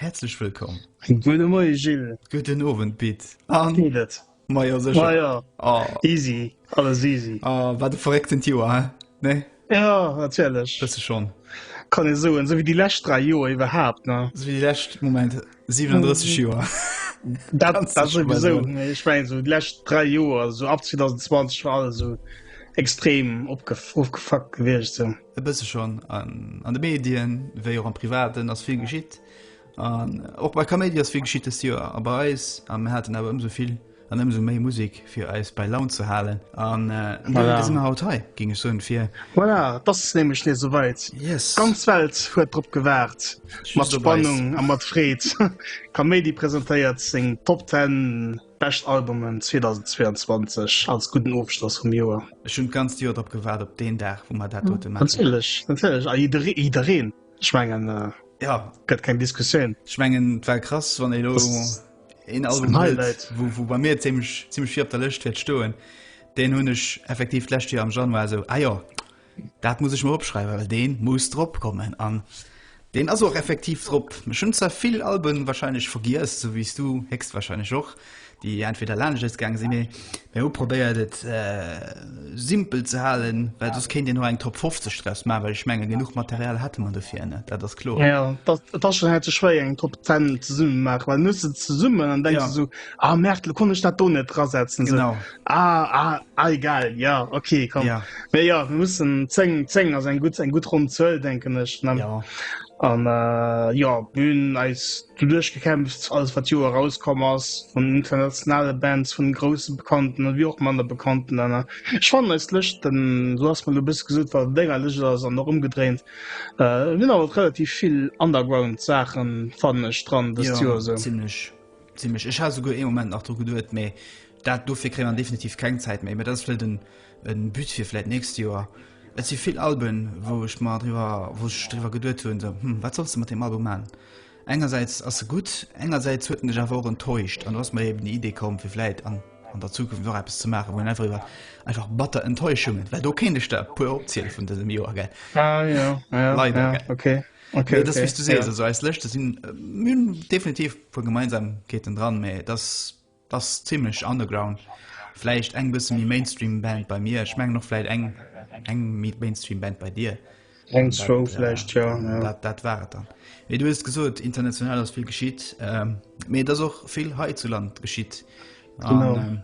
Häerzlech wëllkomm. Gudde Moie Gilles. Gudden Owend Pit. Wéi geet et? Ma jo sécher. Ma jo, easy, alles easy. Ah, wat e verrécktent Joer, hä? Nee? Jo, natierlech. Bësse schonn. Kann ee soen, esou wéi déi lescht 3 Joer iwwerhaapt, ne? Esou wéi déi lescht, Moment, 37 Joer. Dat souwisou, mee ech mengen esou déi lescht 3 Joer, esou ab 2020 war alles esou extrem opge, ofgefuckt gewiescht esou. E bësse schonn an de Medien, wéi och am Privaten ass vill geschitt. An och bei Kaméidi ass vill geschitt dëst Joer a bei eis. A mir haten awer ëmsou vill an ëmsou méi Musek fir eis bei Laun ze halen. An dofir si mir haut hei, géing ech soen, fir. Voilà, et ass nämlech nees esouweit. D'ganz Welt huet drop gewaart, mat Spannung a mat Freed. Kaméidi presentéiert seng Top Ten. Bescht Albumen 2022 als gudden Ofschloss vum Joer. Ech hunn d'ganzt Joer drop gewaart, op deen Dag, wou mer dat dote maachen. Natierlech, natierlech, a jiddereen, ech mengen, ja, gëtt keng Diskussioun. Ech mengen, et war krass, wann ee lo een Album huet, wou bei mir zimlech, zimlech vill op der Lëscht wäert stoen, deen hunn ech effektiv d'lescht Joer am Januar esou, ah jo, Dat muss ech mer opschreiwen, well deen muss drop kommen an deen ass och effektiv drop. Ech hunn zwar vill Alben wahrscheinlech vergiess, esou wéi s du héchstwahrscheinlech och, déi entweder laanscht eis gaange sinn, mee mir hu probéiert et simpel ze halen, well soss kéint een elo eng Top 50 draus maachen, well ech menge genuch Material hate mer dofir net, dat ass kloer. Jo, et ass schonn haite schwéier eng Top 10 zesummen maachen, well mir hu se zesummen an denke se esou, ah Merde, elo konnt ech dat do net drasetzen, esou. Ah, ah, ah, egal ja okay komm ja. Me ja wir mussssen 10 10 as eng gut eng gut run zuuel denken ech ne ja an äh, ja bün als du durchgekämpft alles wat jo herauskomm ass von internationale bands vun großen bekannten an wie auch man der bekannten an schwamm als lech den so hast man du bist gesud war denger lech as an noch umgedrehnt äh, hun aber relativ viel underground sachen fanne dran bis ja, so ziemlich ziemlich ich ha go e moment nach dru geduet me Dat dofir kréie mer definitiv keng Zäit méi, mä dat ass vläicht e But fir vläicht d'nächst Joer. Et si vill Alben, wou ech mer driwwer, wou ech driwwer geduet hunn, esou, hm, wat solls de mat deem Album maachen? Engersäits ass e gutt, engersäits huet en dech awer och enttäuscht. An do ass mer eben déi Idee komm, fir vläicht an der Zukunft och eppes ze maachen, wou een einfach iwwer einfach batter Enttäuschungen, well do kéint ech der e puer opziele vun dësem Joer, gell, leider, gell. Mee et ass wéi s du sees, also eis Lëschte sinn, mir hunn definitiv e puer Gemeinsamkeeten dran, mä et ass Ass zimlech underground, vläicht eng bësse méi Mainstream Band bei mir, ech mengen och vläicht eng eng méi Mainstream Band bei dir. Eng zwou vläicht, jo, jo. Dat dat war et dann. Mee du hues gesot, international ass vill geschitt, mee et ass och vill hei zu Land geschitt an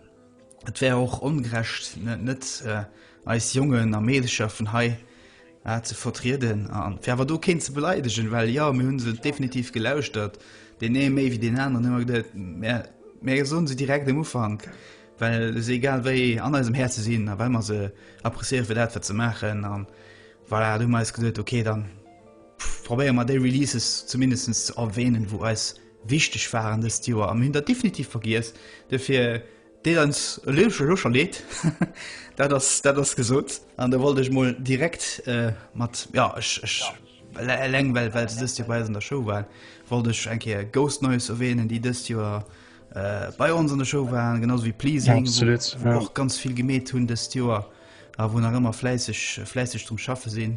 et wär och ongerecht net eis Jongen a Meedercher vun hei, ze vertrieden a fir awer do keen ze beleidegen, well jo, mir hu se definitiv gelauschtert, deen ee méi wéi deen aneren, hu mer geduet, mä mir soe se direkt um Ufank, well se egal wéi an eisem Häerze sinn a well mer se appréciéiere fir dat, wat se maachen. An voilà, du hu mer eis geduet, ok, da probéiere mer déi Releases zumindest ze erwähnen, wou eis wichteg waren dëst Joer a mir hunn der definitiv vergiess. Duerfir Deet eis e Léiwche lo scho Leed, dat ass, dat ass gesot. An da wollt ech mol direkt mat, jo, ech, ech, eleng well, well se dëst Joer bei eis an der Show war, wollt ech eng Kéier Ghost Noise erwähnen, déi dëst Joer bei ons an der Show waren, genau esou wéi Pleasing, wou och ganz vill gemeet hunn dëst Joer a wou nach ëmmer fläisseg, fläisseg drum schaffe sinn.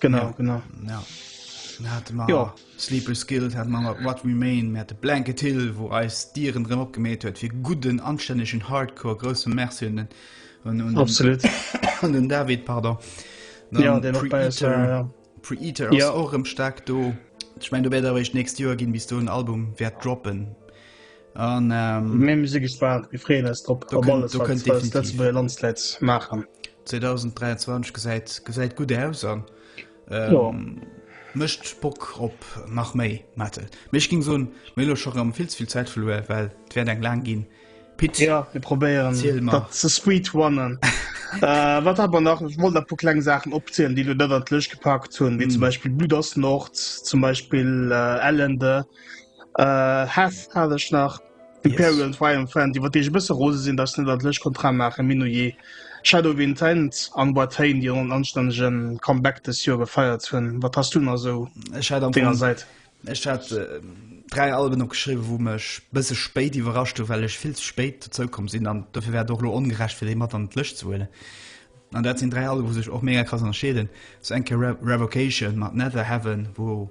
Genau, genau. Ja. Hat man ja. Sleeper Skills, hat man What Remain, mir hat de Blanket Hill, wo eis Dieren drin opgemäht huet, fir guten, anständigen Hardcore, große Merci und, und, und, Absolut. und den David, pardon. Dann ja, den Pre-Eater, ja. Pre-Eater ja. auch im stark do. Ich meine, du wärst aber echt nächstes Jahr gehen, bis du ein Album wert droppen. An mé mir si gespaant, mir freeën eis drop op alles, wat d'Lëtzebuerger Landsleit maachen. 2023 gesäit gesäit gutt aus an mécht Bock op nach méi, Maartel. Mee ech géing soen, mir hu lo scho rëm vill ze vill Zäit verluer, well et wäert eng laang ginn. Pit, erzähl mol. Jo, mir probéieren dat ze speedrunnen. Wat awer nach, ech wollt nach e puer kleng Saachen opzielen, déi elo net an d'Lëscht gepackt hunn, wéi zum Beispill Blüder's Nord, zum Beispill Ellende, Äh, Heth hat ech nach. Imperial yes. Triumphant, iwwer dee bësse rose sinn, dats net dat lech Kontra maache Min je. Shadow Intent an Watain, Dir an anstännegen Comeback des Joer gefeiert hunn. Wat hast du na sou denger seit? Ech hat äh, dräi Alben opgeschriwe, wou mech bësse spéit iwwerrascht hu, well ech vill ze spéit zoukomm sinn an dofir wär och lo ongerecht fir déi mat an d'Lëcht ze huelen. An dat sinn dräi Alben, wou sech och mega krass ënnerscheeden. So enke Re Revocation mat Nether Heaven, wou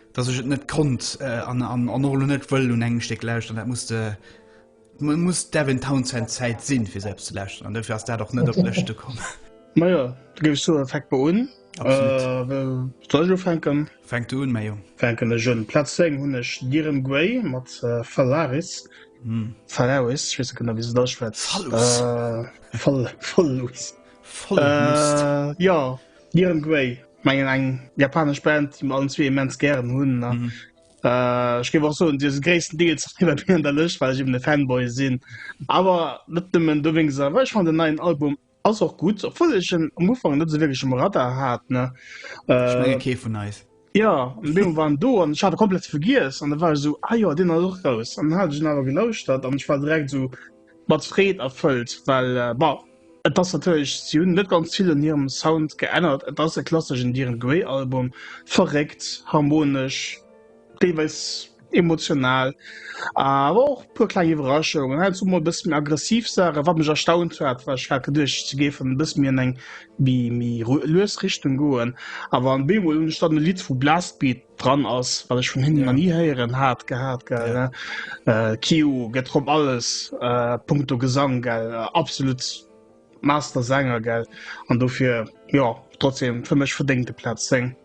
dass ech et net konnt an an och lo net wëll un engem Stéck lauschteren, dat muss de man muss Devin Townsend Zäit sinn fir selbst ze lauschteren an dofir ass dat och net op d'Lëschte komm. Ma jo, da géif ech soen, fänk mol un. Absolut. Soll ech ufänken? Fänk du un, mäi Jong. Fänken ech un. Plaz 10 hunn ech Diren Gray mat Phalaris, Phalaris, ech weess net genau wéi se et ausschwätzt, Phallus. Phal, Phallus. Voll Mist. Jo. Niren Grey mengen eng japanesch Band déi mer allen zwee immens gären hunn an mhm. äh, ech géif och soen Dir se gréissten Deels iwwer mir an der Lëscht, well ech eben de Fanboy sinn. Awer net nëmmen do wéngs a wech fan den neien Album ass och gut, obwohl ech en am Ufang net esou wierklech um Radar hat ne. Ech menge äh, kee vun eis. Jo, an dee Moment war en do an ech hat e komplett vergiess an da war ech esou, ah jo, deen ass och raus. An dann hat ech en awer gelauschtert an ech war direkt esou mat Freed erfëllt, well bon, et ass natierlech, si hunn net ganz vill un hirem Sound geännert, et ass e klasseschen Dir Grey Album, verréckt, harmonesch, deelweis emotional, awer och e puer kleng Iwwerraschungen, hei an do mol e bësse méi aggressiv Saachen, wat mech erstaunt hat, well ech hat geduecht, se géifen e bësse méi an eng méi lues Richtung goen. Awer an bémol hunn ech dann e Lidd, wou Blastbeat dran ass, wat ech vun hinnen nach ni héieren hat gehat, gell, ne? Kyau gëtt drop alles, punkto Gesang, gell, absolut Master-Sänger, gell, an dofir, jo, trotzdem, fir mech verdéngt e Platz 10.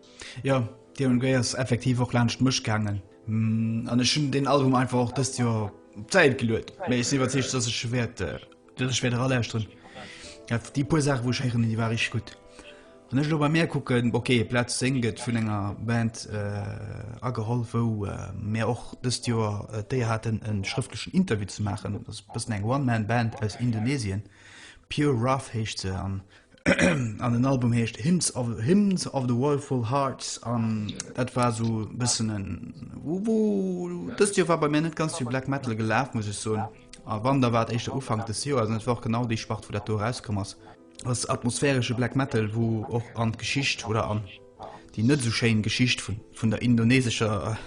Jo, d'Irene Grey ass effektiv och laanscht mech gaangen an ech hunn deen Album einfach och dëst Joer op d'Säit geluet. Mee ech sinn iwwerzeegt, datt ech wäert datt ech wäert eralauschteren. Dat déi puer Saachen, wou ech héieren, déi ware richteg gutt. Wann ech elo bei mär kucken, ok, Plaz 10 gëtt vun enger Band ageholl, wou mir och dëst Joer d'Éier haten, e schrëftlechen Interview ze maachen. Dat ass e bëssen eng One-Man-Band aus Indonesien, Pure Wrath heescht se. An den Album heescht Hymns of Hymns of the Woeful Hearts an dat war esou e bëssen en Wuuh. Dëst Joer war bei mir net ganz vill Black Metal gelaf, muss ech soen. A wann, da war et éischter Ufank des Joers an et war och genau déi Spart, wou dat do erauskomm ass. Ass atmosphäresche Black Metal, wou och an d'Geschicht oder an Déi net esou schéin Geschicht vun der indonesescher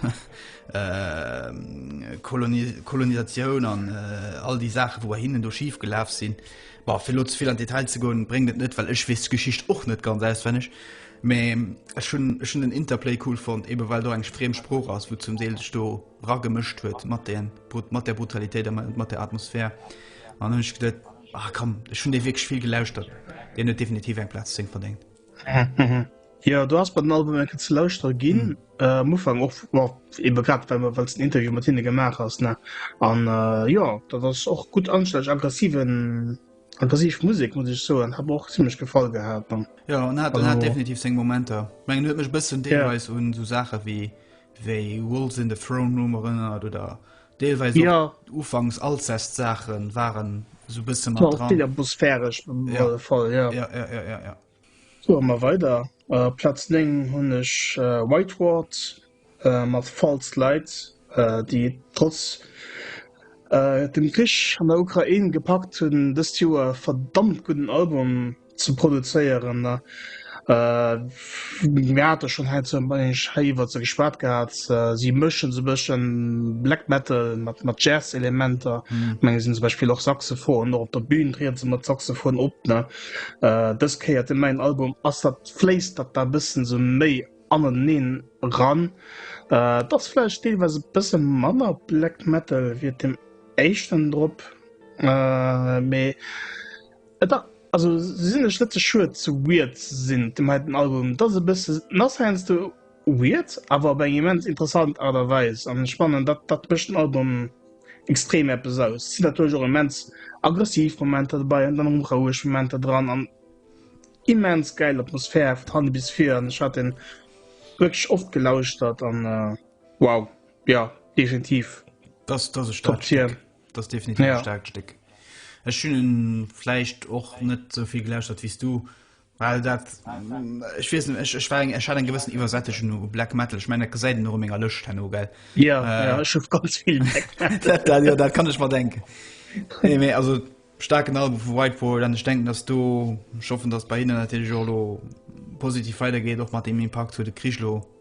Kolonisatioun an all déi Saachen, wou bei hinnen do schif gelaf sinn, bon, fir elo ze vill an d'Detail ze goen, bréngt et net, well ech weess d'Geschicht och net ganz auswenneg. Mä ech hunn, ech hunn den Interplay cool fonnt, eben well do eng friem Sprooch ass, wou zum Deel sech do ragemëscht huet mat de, mat der Brutalitéit a mat der Atmosphär. An dann hunn ech geduet, ah komm, ech hunn dee wierklech vill gelauschtert, deen huet definitiv eng Plaz 10 verdéngt. Jo, du ass bei den Album enke ze lauschtere ginn mm. äh, Mofang och ebe grad wenn man wëz den Interview mat hinne gemaach ass ne an äh, jo dat ass och gut ansteg aggressiven aggressiv Musik muss ich so an hab och ziemlich gefall gehabt dann ja an hat, hat definitiv seng Momenter meng huet mech bëssen deelweis yeah. un so Sache wie wéi Wolls in the Throne Room erinnert oder Deelweis och Ja, ufanks Alcest Saachen waren sou bësse mat war vill dran. atmosphäresch op Ja, alle Fall, ja. ja, ja, ja, ja, ja. Soe mer weider. Äh, Platz 9 hunn ech äh, Whiteward äh, mat False Light, äh, déi trotz äh, dem Krich an der Ukrain gepackt hunn, dëst Joer verdammt gudden Album ze produzéieren. Mir hate schonn hei zum Beispill hei iwwert se geschwat gehat. Si mëschen se bësche Black Metal mat mat Jazz-Elementer. Mm. Menge sinn zum Beispill och Saxophon och op der Bühn triede se mat Saxophon op ne. Dës Kéier den neien Album ass dat fléisst dat da bëssen sou méi aneneen ran. Et ass vläicht deelweis e bësse manner Black Metal wéi et dem éischten drop. Mee Et ass also sinnlech net ze schued ze weird ze sinn. Dem heiten Album, et ass e bësse nass heiansdo, weird, awer op eng immens interessant Aart a Weis. An ech fannen dat dat mécht den Album extrem eppes aus. Et sinn natierlech och immens aggressiv Momenter dobäi an dann erëm roueg Momenter dran an immens gäil Atmosphär vun hanne bis vir an ech hat deen wierklech oft gelauschtert an wow, jo, definitiv Top Tier. Das definitiv ja. stark Stück. Ech schönen vielleicht och net soviel gelläuscht hat wiest du weil dat ich wissen ich, ich war er einen gewissen übersättischen nur black metal ich meine se nur mega löscht ja, äh, ja, ganz viel dat, dat, ja, dat kann ich mal denken nee, nee, also stark genau whiteboard dann ich denken dass du schaffen dass bei ihnen natürlich positiv weitergeht auch mal dem impact zu de kriechlo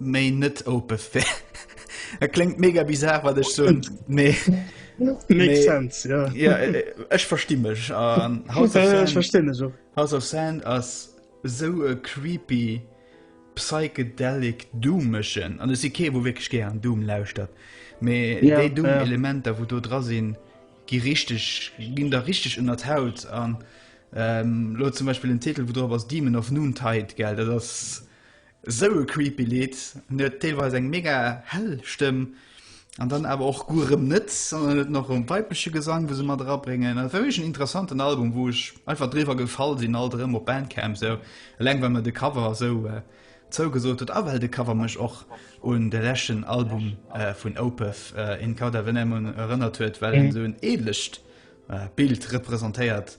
méi net ope wär. Et kléngt mega bizar, wat ech soen, mee Makes sense, ja. Ja, äh, ech versti mech. Ähm, House of Ja, ja, ich Sand- verstehe das auch. House of Sand ass sou e creepy psychedelic Doomëschen an si kee wo wéckeg ge an Doom lauschtert. Mee Ja, déi Doom ja. Elementer, wou do dra sinn, gi richteg ginn der richteg ënner d'Haut an ähm, lo zum Beispiel den Titel, wou drop ass Demon of Noontide, gell, dat ass Sou e creepy Lidd. En huet deelweis eng mega hell Stëmm an dann awer och guer erëm net, an en huet nach erëm weibleche Gesang, wou se mat erabréngen. Dat war wierklech en interessanten Album, wou ech einfach driwwer gefall sinn, alt erëm op Bandcamp esou. Eleng well mer de Cover esou zougesot huet a well de Cover mech och un de leschten Album vun Opeth, In Cauda Venenum, erënnert huet, well en esou en edlecht Bild representéiert.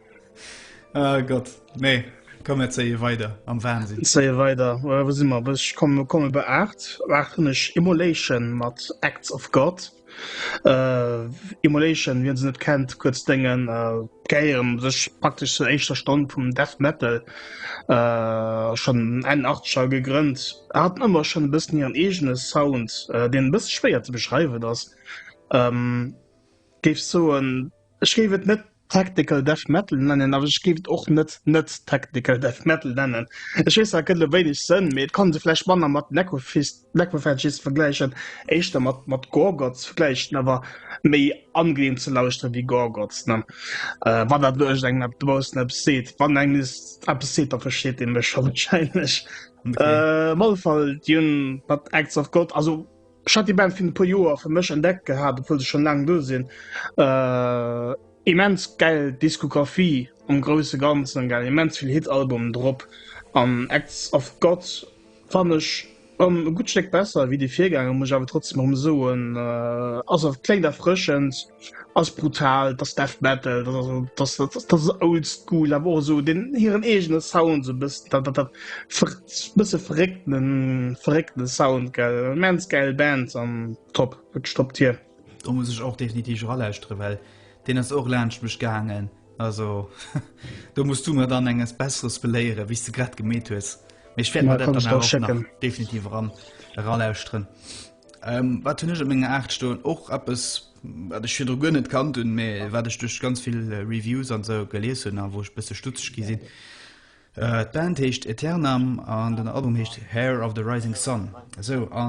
Ah Gott, nee. Komm mir zeie weider am Wahnsinn. Zeie weider. Äh, wo si mer? Ech komme komme be 8. Waachen ech Immolation mat Acts of God. Äh, Immolation, wien se net kennt, kurz dengen äh, geieren sech praktisch zur eischter Stonn vum Death Metal äh, schon en Artscher gegrënnt. Er hat ëmmer schon e bëssen hireieren egene Sound, äh, den bësse schwéier ze beschreiwen ass. Ähm, Géif soen, ech géif et net Technical Death Metal nennen, awer ech géif et och net net Technical Death Metal nennen. Ech weess, dat gëtt elo wéineg Sënn, mee et kann se vläicht manner mat Necrofist, Necrophagists vergläichen, éischter mat mat Gorgoths, vläicht awer méi angeneem ze lauschteren wéi Gorgoths, ne? Wann dat elo iergendengem eppes dobaussen eppes seet. Wann engem nees eppes seet, da versteet ee mech wahrscheinlech. Op alle Fall, déi hunn mat Acts of God, also Ech hat déi Band vun e puer Joer fir mech entdeckt gehat, obwuel se schonn laang do sinn. Immens gäil Diskografie am grousse Ganzen, gell, immens vill Hit-Albumen drop an Acts of God fannen ech erëm e gutt Stéck besser wéi déi Virgänger, muss ech awer trotzdeem erëm soen. Ass awer kléngt erfrëschend. Ass brutal, dass Death Metal, dass also dass dass dass old school, awer och esou den hiren eegene Sound sou bëssen dat dat dat ver bësse verréckten verréckte Sound gell. Immens gäil Band an top, wierklech top Tier. Do muss ech och definitiv eralauschtere well deen ass och laanscht mech gaangen, also do muss du mer dann enges besseres beléiere wéi s de grad gemeet hues, mee ech wäert mer dat dann awer och nach definitiv eran eralauschteren. Wat hunn ech op menger 8 stoen? Och eppes, wat ech virdru guer net kannt hunn, mä wat ech duerch ganz vill Reviews an esou gelies hunn a wou ech e bësse stutzeg gi sinn. D'Band heescht Aeternam an den Album heescht Heir of the Rising Sun. Esou, a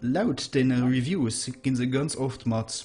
laut deene Reviews gi se ganz oft mat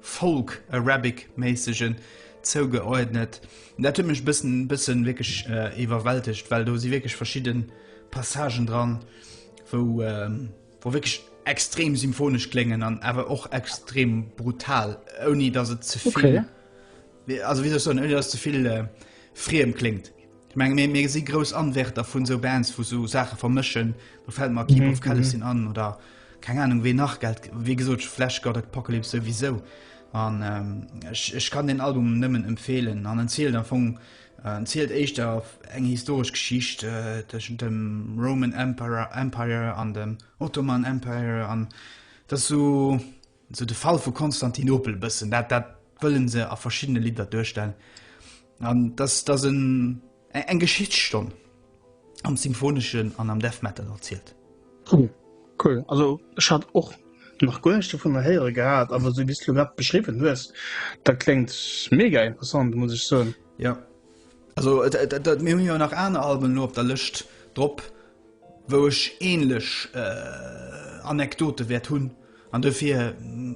Folk Arabic méissegen zougeordnet. Dat huet mech bëssen bëssen wierklech iwwerwältegt, well do si wierklech verschidde Passagen dran, wou wou wierklech extrem symphonesch kléngen an awer och extrem brutal, ouni datt et zevill. Also wéi soll ech soen, ouni dass et ze vill friem kléngt, ech menge mir, mir si grouss Anwärter vun esou Bands, wou esou Saache vermëschen. Do fält mer Keep of Kalestin an oder keng Anung wee nach. Gelt wéi gesot Flash God Apocalypse souwisou an ech, ech kann deen Album nëmmen empfeelen an en zielt am Fong, en zielt éischter eng historesch Geschicht tëschent dem Roman Emperor Empire an dem Ottoman Empire an dass esou. Sou de Fall vu Konstantinopel e bëssen, dat dat wëllen se a verschiddene Lidder duerstellen. An dass dass en eng Geschichtsstonn am Symphoneschen an am Death Metal erzielt. Oh, cool. Also ech hat och nach guer näischt dovunner héiere gehat, awer esou wéi s de lo grad beschriwwen hues, dat kléngt mega interessant, muss ech soen. Jo. Also et et et mir hunn jo nach aner Alben elo op der Lëscht drop, wou ech ähnlech Anekdote wäert hunn. An dofir,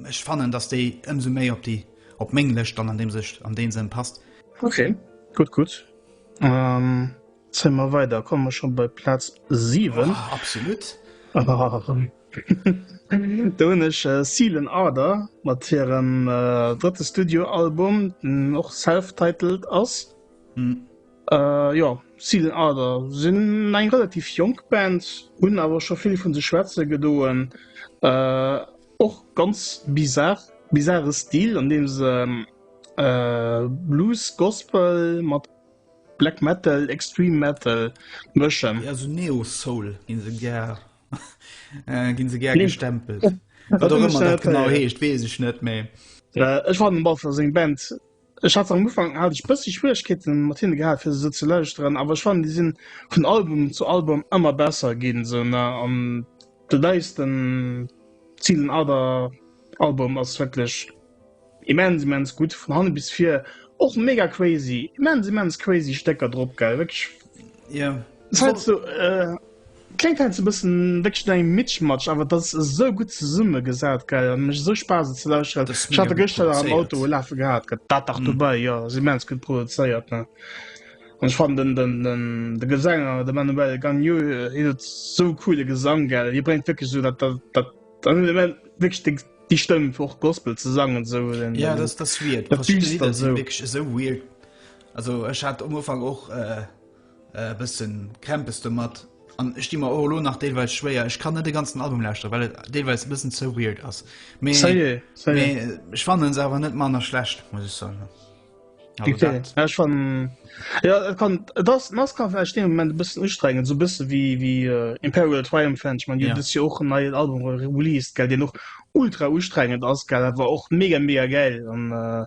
ech fannen, dass déi ëmsou méi op déi, op meng Lëscht dann an deem Sëch, an dee Sënn passt. Okay, gutt, gutt. Zéie mer weider, komme mer scho bei Plaz 7. Oh, absolut! Do hunn ech Sealan Arder mat hirem drëtte Studioalbum, deen och self-titled ass. Jo, Season Ardor sinn eng relativ jonk Band, hunn awer scho vill vu sech schwätze gedoen. Och ganz bizarr, bizarre Stil, an deem se Blues, Gospel mat Black Metal, Extreme Metal mëschen. Jo, esou Neo-Soul gi se gär, gi se gär gestempelt. Wat och ëmmer dat genau heescht, weess ech net, mee. Ech fannen, Balthazar seng Band. Ech hat se am Ufank hat ech bëssi Schwieregkeeten mat hinne gehat fir se sou ze lauschteren, awer ech fannen déi sinn vun Album zu Album ëmmer besser ginn esou ne an de neisten Season Other Album ass wierklech immens immens gutt vun hanne bis vir, och mega crazy immens immens crazy Stécker drop gell wierklech yeah. Sou, äh, Klengt heiansdo bessen wierklech no engem Mitschmatsch, awer et ass esou gutt zesummegesat, gell, an mecht esou Spaass et ze lauschteren. Ech hat der gëschter nach am Auto e lafe gehat, gëtt dat dach dobäi, jo ass immens gutt produzéiert, ne, an ech fannen den den de Gesänger, de Manuel Gagno, hien huet esou e coole Gesang, gell, hie bréngt wierklech esou dat dat an den Element wierklech déi déi Stëmm fir och Gospel ze sangen esou den den dat Düstert esou. e bëssen Krämpes domat an ech di mer och elo nach deelweis schwéier. Ech kann net de ganzen Album lauschtere, well et deelweis e bëssen zou weird ass. Ech fannen se awer net manner schlecht muss ech soen. Nas kann de moment bëssen ustrengen, sou bësse wéi wéi äh, Imperial Triumph Fan man yeah. jo och en neien Album released gell, Dir noch ultra ustrengend ass gell, war och mega mega geil an äh,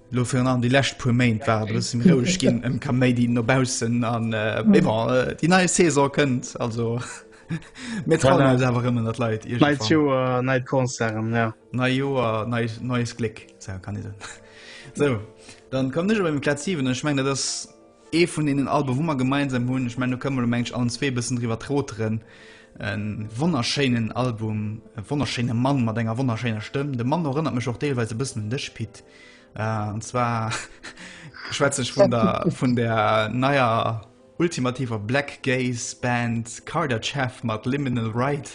Lo virun allem déi lescht puer Méint war et e bëssen roueg ginn ëm Kaméidi no baussen an mee bon, déi nei Saison kënnt, also mir trauen eis awer erëm un der Leit. Neit Joer, neit Concerten, jo. Neit Joer, neit Gléck, kann ee soen. Sou, dann kommen ech elo beim Platz 7 an ech mengen dat ass, Ee vun deenen Alben, wou mer gemeinsam hunn, ech mengen do kënne mer elo mengen ech allen zwee e bëssen driwwer troteren, e wonnerschéinen Album, e wonnerschéine Mann mat enger wonnerschéiner Stëmm, de Manno erënnert mech och deelweis e bëssen un dech Pit, an zwar schwätze ech vun der vun der neier ultimativer Black Gaze Band Carter Jeff mat Liminal Ride.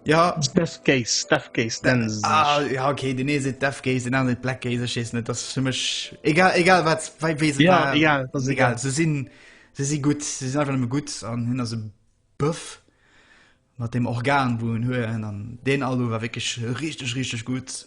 Ja Steph Gaze, Steph Gaze nennen se sech. Ah, ja, okay, den ee seet Death Gaze, den aner seet Black Gaze, ech weess net, dat ass fir mech egal, egal wat, wei, wéi se Ja, war. egal, das ist egal. egal. Se sinn, se si gutt, se sinn einfach nëmme gutt an hien ass e Bëff mat dem Organ, wou en huet an deen Alu war wierklech richteg, richteg gutt.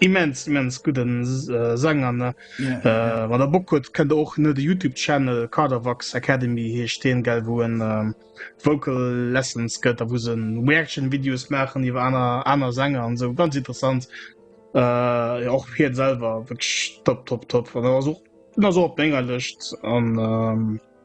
Immens immens gudden Sang an wann der Bock huet kënnt der och net de Youtube Channel Kaderwax Academy heescht deen gell wou en Vocal Lessons gëtt a wou se Reaction Videos maachen iwwer aner aner Sänger an esou ganz interessant jo och hiert selwer wierklech top top top an ass och den ass och op menger Lëscht an.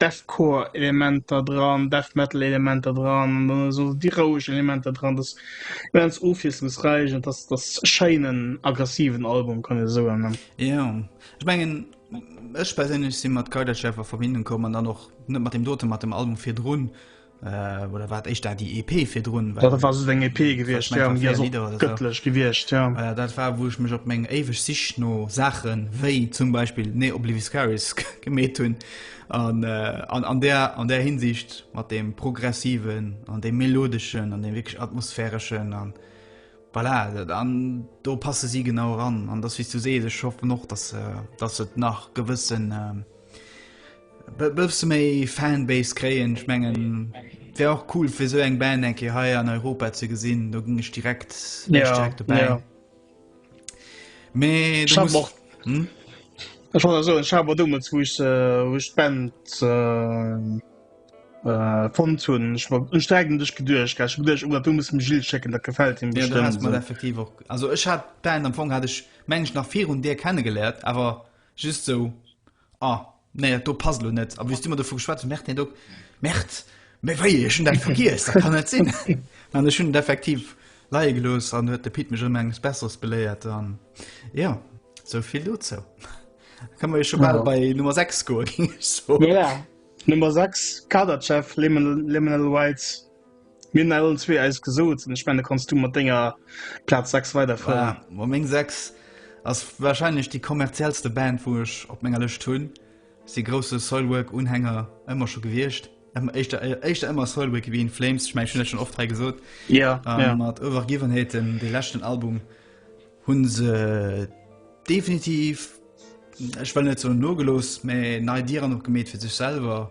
Deathcore Elementer dran, Death Metal Elementer dran an dann esou déi roueg Elementer dran, dat ass immens ofwiesslungsräich an dat ass e schéinen aggressiven Album kann ee soen ne. Jo ech mengen ech perséinlech si mat Kaidaschef a Verbindung komm an dann och net mat deem dote mat dem Album virdrun Äh, oder wat echt da die EP fir run ja, war so eng EP gewircht ja, gëttlech so. gewircht ja. äh, dat war wo ich mech op mengg eweg sich no Sachen wéi zum Beispiel ne Oblivious Caris gemet hunn an, äh, an, an der an der hinsicht mat dem progressiven an dem melodeschen an dem wirklich atmosphäreschen an voilà, dann do passe sie genau ran an das wie du se ich hoffe noch dass äh, das nach gewissen äh, Bësse méi Fanbase kréien, ech mengen wär och cool fir sou eng Band eng Kéier hei an Europa ze gesinn, do ginn ech direkt direkt ja, dobäi. Ja. Mee du musst och, hm? Ech wollt eso ech hawer dummels wou ech äh, wou ech d'Band äh, äh, fond hunn ech war ech sträigen dech geduercht ech geduercht oh, du muss dem Gilles schécken dat gefällt him Ja, du hast mal bestimmt effektiv och also ech hat d'Band am Fong hat ech meng ech nach virun dir kennengelernt awer just sou Ah, nee, dat do passt elo net. A wéi s du mer dovu geschwat hues, Mert, nee, do, Mert, mee wéi, ech hunn dat vergiess, dat kann net sinn. An ech hunn et effektiv leie gelooss an huet de Pit mech erëm enges Besseres beléiert an jo, esou vill dozou. Da ka mer jo scho bal Ja. bei Nummer 6 goen, géing ech soen. Voilà. Nummer 6, Kaderchef, Liminal, Liminal Rights. Mir hunn allen zwee eist gesot an ech mengen, da kanns du mat denger Plaz 6 weiderfueren. Voilà, ma meng 6 ass warscheinlech déi kommerziellste Band, wou ech op menger Lëscht hunn. Ech si grousse Soilwork-Unhänger ëmmer scho gewiescht. Ëmmer éischter, éischter ëmmer Soilwork wéi In Flames. Ech mengen, ech hunn dat schonn oft hei gesot. Jo, jo. A mat Over Given Hate, dem deem leschten Album, hu se definitiv, ech wëll net soen nogelooss, mä nei Dieren opgemeet fir sech selwer.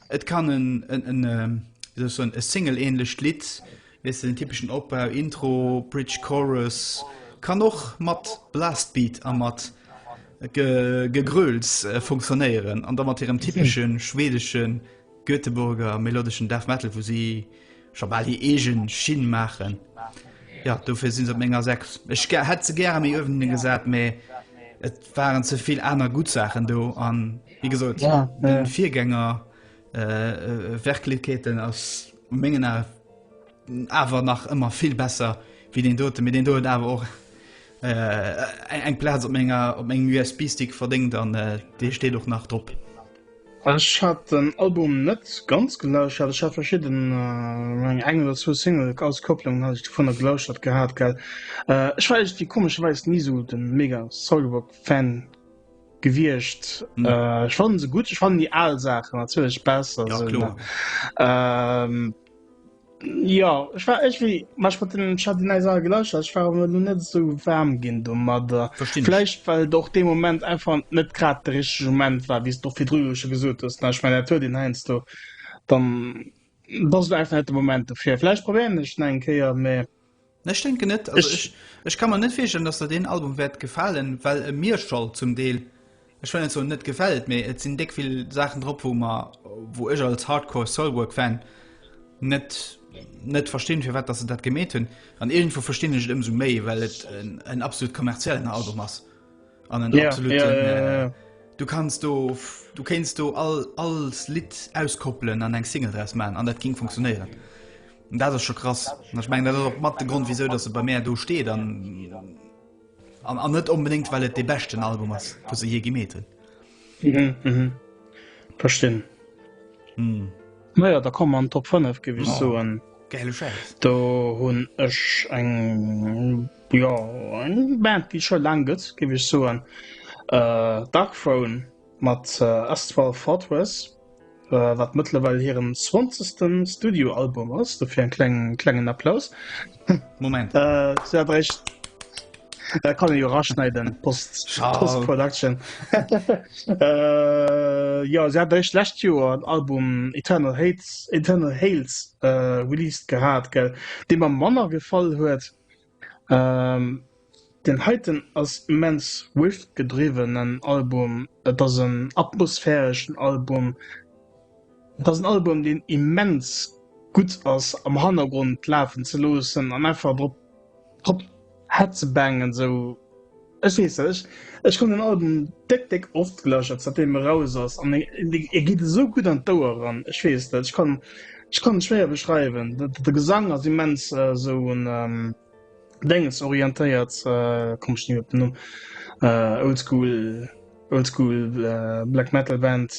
Et kann en, en, en, wéi soll ech soen, e Single-ähnlecht Lidd, weess de, den typeschen Opbau, Intro, Bridge, Chorus, kann och mat Blastbeat a mat Ge, Gegröls funktionéieren, an da mat hirem typesche schweedesche Göteborger melodeschen Death Metal, wou si Scho bal hir eegen Schinn maachen. Jo, dofir sinn se op menger Säck. Ech hätt se gäre méi uewen gesat, mee et waren ze vill aner gutt Saachen do. An wéi gesot, de Virgänger Werklekeeten ass u mengen Ae awer nach ëmmer vill besser wéi deen doten. Mee deen do huet awer och eng Plaz op mengem USB-Stick verdéngt an dee steet och nach drop. Ech hat den Album net ganz gelauschert, ech hat verschidden eng eng oder zwou Single-Auskopplungen hat ech dovunner gelauschert gehat gell. Ech war eegent wie komescherweis ni sou den mega Soilwork Fan gewiecht. Ech fannen se gutt, ech fannen déi aal Saachen natierlech besser sou ne. Jo ech war ech wéi mech mat den Chardinais all gelauscht ech war awer nun net sou waarm ginn domadder. Verstinn ech. Vläicht well et och dee Moment einfach net grad de richtege Moment war, wéi s de och virdru jo scho gesot hues. Ech mengen dat huet een heiansdo, dann, dann ass et einfach net de Moment dofir. Vläicht probéieren ech et nach eng Kéier, mä. Ech denken net, also ech, ech, ech kann man net virstellen, dass der den Album wärt gefalen, well e mir schall zum Deel, ech well net soen net gefällt, mee et sinn déck vill Saachen drop wou mer, wou ech als Hardcore Soilwork Fan net, net verstinn firwat dass se dat gemeet hunn, an iergendwou verstinn ech et ëmsou méi well et en, en absolut kommerziellen Album ass an en absoluten yeah, yeah, yeah, yeah. Äh, du kanns do, du kéinst do all, alls Lidd auskoppelen an eng Single draus man an dat ging funktionéieren. Dat ass scho krass. Ech mengen, dat ass och mat de Grond, wisou dass se bei mär do steet an an net onbedéngt, well et dee beschten Album ass, wou se jee gemeet hunn. Mhm, mhm. Verstinn. Mm. Naja, da kommen wir an den Top 5, gebe ich oh. so an. Geile Scheiß. Da hun ech eng, ja, eng Band, die schon lang gibt, gebe ich so an. Äh, Dark Throne mit äh, Astral Fortress. wat mëttlerweil hiren 20. Studioalbum ass, dofir en klengen klengen Applaus. Moment äh, ja, recht. Da kann jo raschneiden Post Production äh, Ja se hat eich lächt Joer an Album Eternal Hates Eternal Hales äh, released gehat gell, Deem am Manner gefall huet. Den heiten ass immens Riff-gedriwwenen Album. Et ass en atmosphäreschen Album. Et ass en Album, deen immens gutt ass am Hannergrond lafen ze loossen an einfach drop drop hezebaangen, esou. Ech weess nech, ech hunn den Album déck déck oft gelauschtert säitdeem e raus ass an e geet esou gutt an d'Ouer eran. Ech weess net, ech kann ech kann et schwéier beschreiwen. De Gesang ass immens esou un Dénges orientéiert, komm ech ni op den Numm, oldschool oldschool black metal band,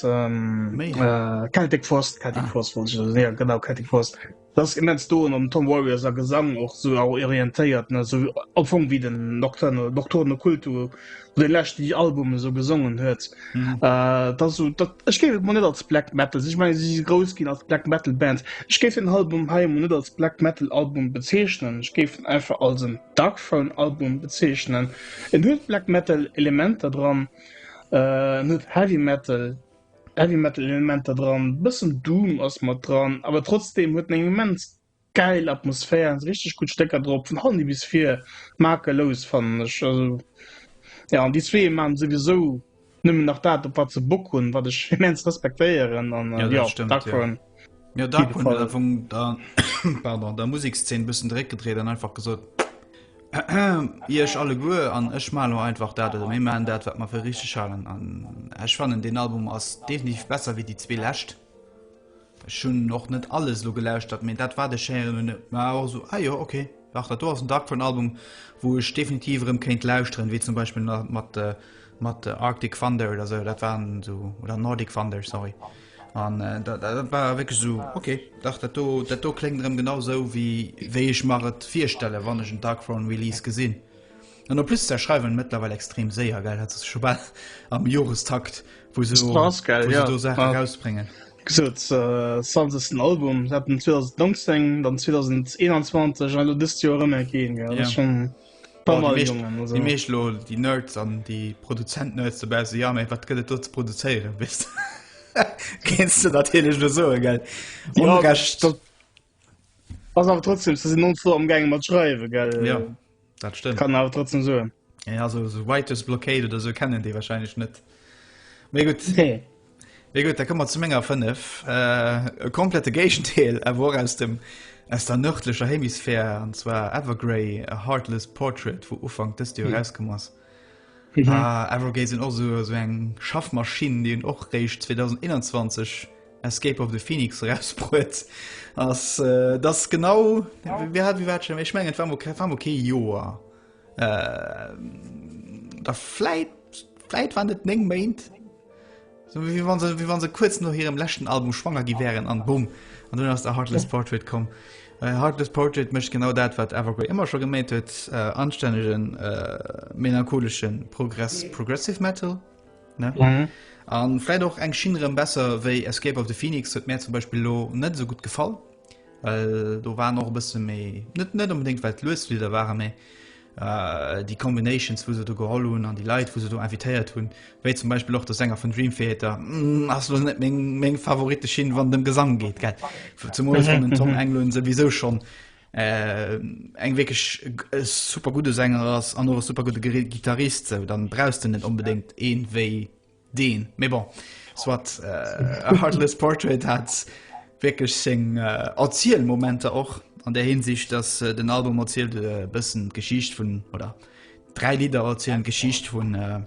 Celtic Frost, Celtic Frost wollt ech, jo genau Celtic Frost. Dat ass immens do an Tom Warriors a Gesang och sou orientéiert ne sou am Fong wéi den Nocturne Nocturne Occulto wou dee leschte J Album esou gesongen huet. Mhm. Äh, dat sou dat ech géif et mol net als Black Metal sinn. Ech menge si si grouss ginn als Black Metal Band. Ech géif den Album hei emol net als Black Metal Album bezeechnen. Ech géif en einfach als en Darkthrone Album bezeechnen. En huet Black Metal Elementer dran, äh, en huet Heavy Metal Heavy Metal Elementer dran, bëssen Doom ass mat dran, awer trotzdem huet en eng immens gäil Atmosphär an si richteg gutt Stécker drop, vun Honey bis vir, makellos fannen ech. Also jo, an déi zwee maachen souwisou nëmmen nach dat op wat se Bock hunn, wat ech immens respektéieren an jo, Darkthrone. Ja, da hat man von der, pardon, der Musikszene ein bisschen direkt gedreht und einfach gesagt, ihr euch alle gut und ich mache nur einfach das, oder wir machen das, was wir für richtig halten. Und ich fand, den Album ist definitiv besser wie die zwei letzten. Ich habe noch nicht alles so gelauscht, aber das war der Schere und war auch so, ah ja, okay. Ach, das war ein Dark von Album, wo ich definitiv im Kind lauschen, wie zum Beispiel mit, äh, mit äh, Arctic Thunder oder so, das waren so, oder Nordic Thunder, sorry. An dat war wierklech esou, ok, dach dat do, dat do kléngt erëm genau esou wéi wéi ech mer et virstelle wann ech en Darkthrone Release gesinn. An en plus se schreiwen mëttlerweil extrem séier, gell, dat ass scho bal am Jorestakt wou se do, wou se do Saachen erausbréngen. Gesot zanter ech den Album hat, 2019, dann 2021 an elo dëst Joer erëm eng kéien, gell, dat ass schonn. Komm mal, Jongen, also. Déi meescht lo, déi Nerds an déi Produzent-Nerds dobäi se, ja, méi wat gëtt et do ze produzéieren, wéis de? Kéinst du natierlech lo soen, gell? Ohne ja, Recht. Dat ass awer trotzdem, se sinn non vor am Gänge mat schreiwe, gell? Ja, dat stëmmt. Kann awer trotzdem soen. Ja, also so Writers Blockade oder so kennen déi wahrscheinlech net. Méi gutt. Nee. Mee gutt, da komme mer zu menger 5. E komplette Géigendeel, awer och aus dem, aus der nërdlecher Hemisphär, an zwar Evergrey, A Heartless Portrait, wou Ufank dëst Joer erauskomm ass. Evergrey sinn och esou, esou eng Schaffmaschinn, déi hunn och réischt 2021 Escape of the Phoenix erausbruet. Ass, et ass genau, wéi war, wéi war dat schonn, ech mengen et war, war mol kee Joer. Äh, da vläit, vläit waren et 9 Méint? So, wie wann se, wie wann se kurz no hirem leschten Album schwanger gi wären an Bumm. An dunn ass der Heartless Portrait komm. Äh, Heartless Portrait mécht genau dat, wat Evergrey ëmmer scho geméit huet, äh, anstännegen, äh, melancholeschen Progress, Progressive Metal, ne? Mhm. An vläit och eng Schinn erëm besser wéi Escape of the Phoenix, huet mär zum Beispill elo net esou gutt gefall. Well do waren och e bësse méi net net unbedingt well d'Luesflieder waren, mee äh, déi Combinations, wou se do geholl hunn an déi Leit, wou se do invitéiert hunn, wéi zum Beispill och der Sänger vun Dream Theater, mm, ass lo net meng, meng Favorite Schinn, wann dem Gesang geet, gell. Zumal ech den Tom Englund souwisou schon äh, eng wierklech e super gudde Sänger ass an och e super gudde Giri- Gitarrist, sou dann brauchs de net unbedingt een wéi Deen, mais bon, soit, äh, A Heartless Portrait hat wierklech seng äh, Erzielmomenter och, an där Hinsicht, dass äh, den Album erzielt e bëssen d'Geschicht vun, oder dräi Lidder erzielen d'Geschicht vun, äh,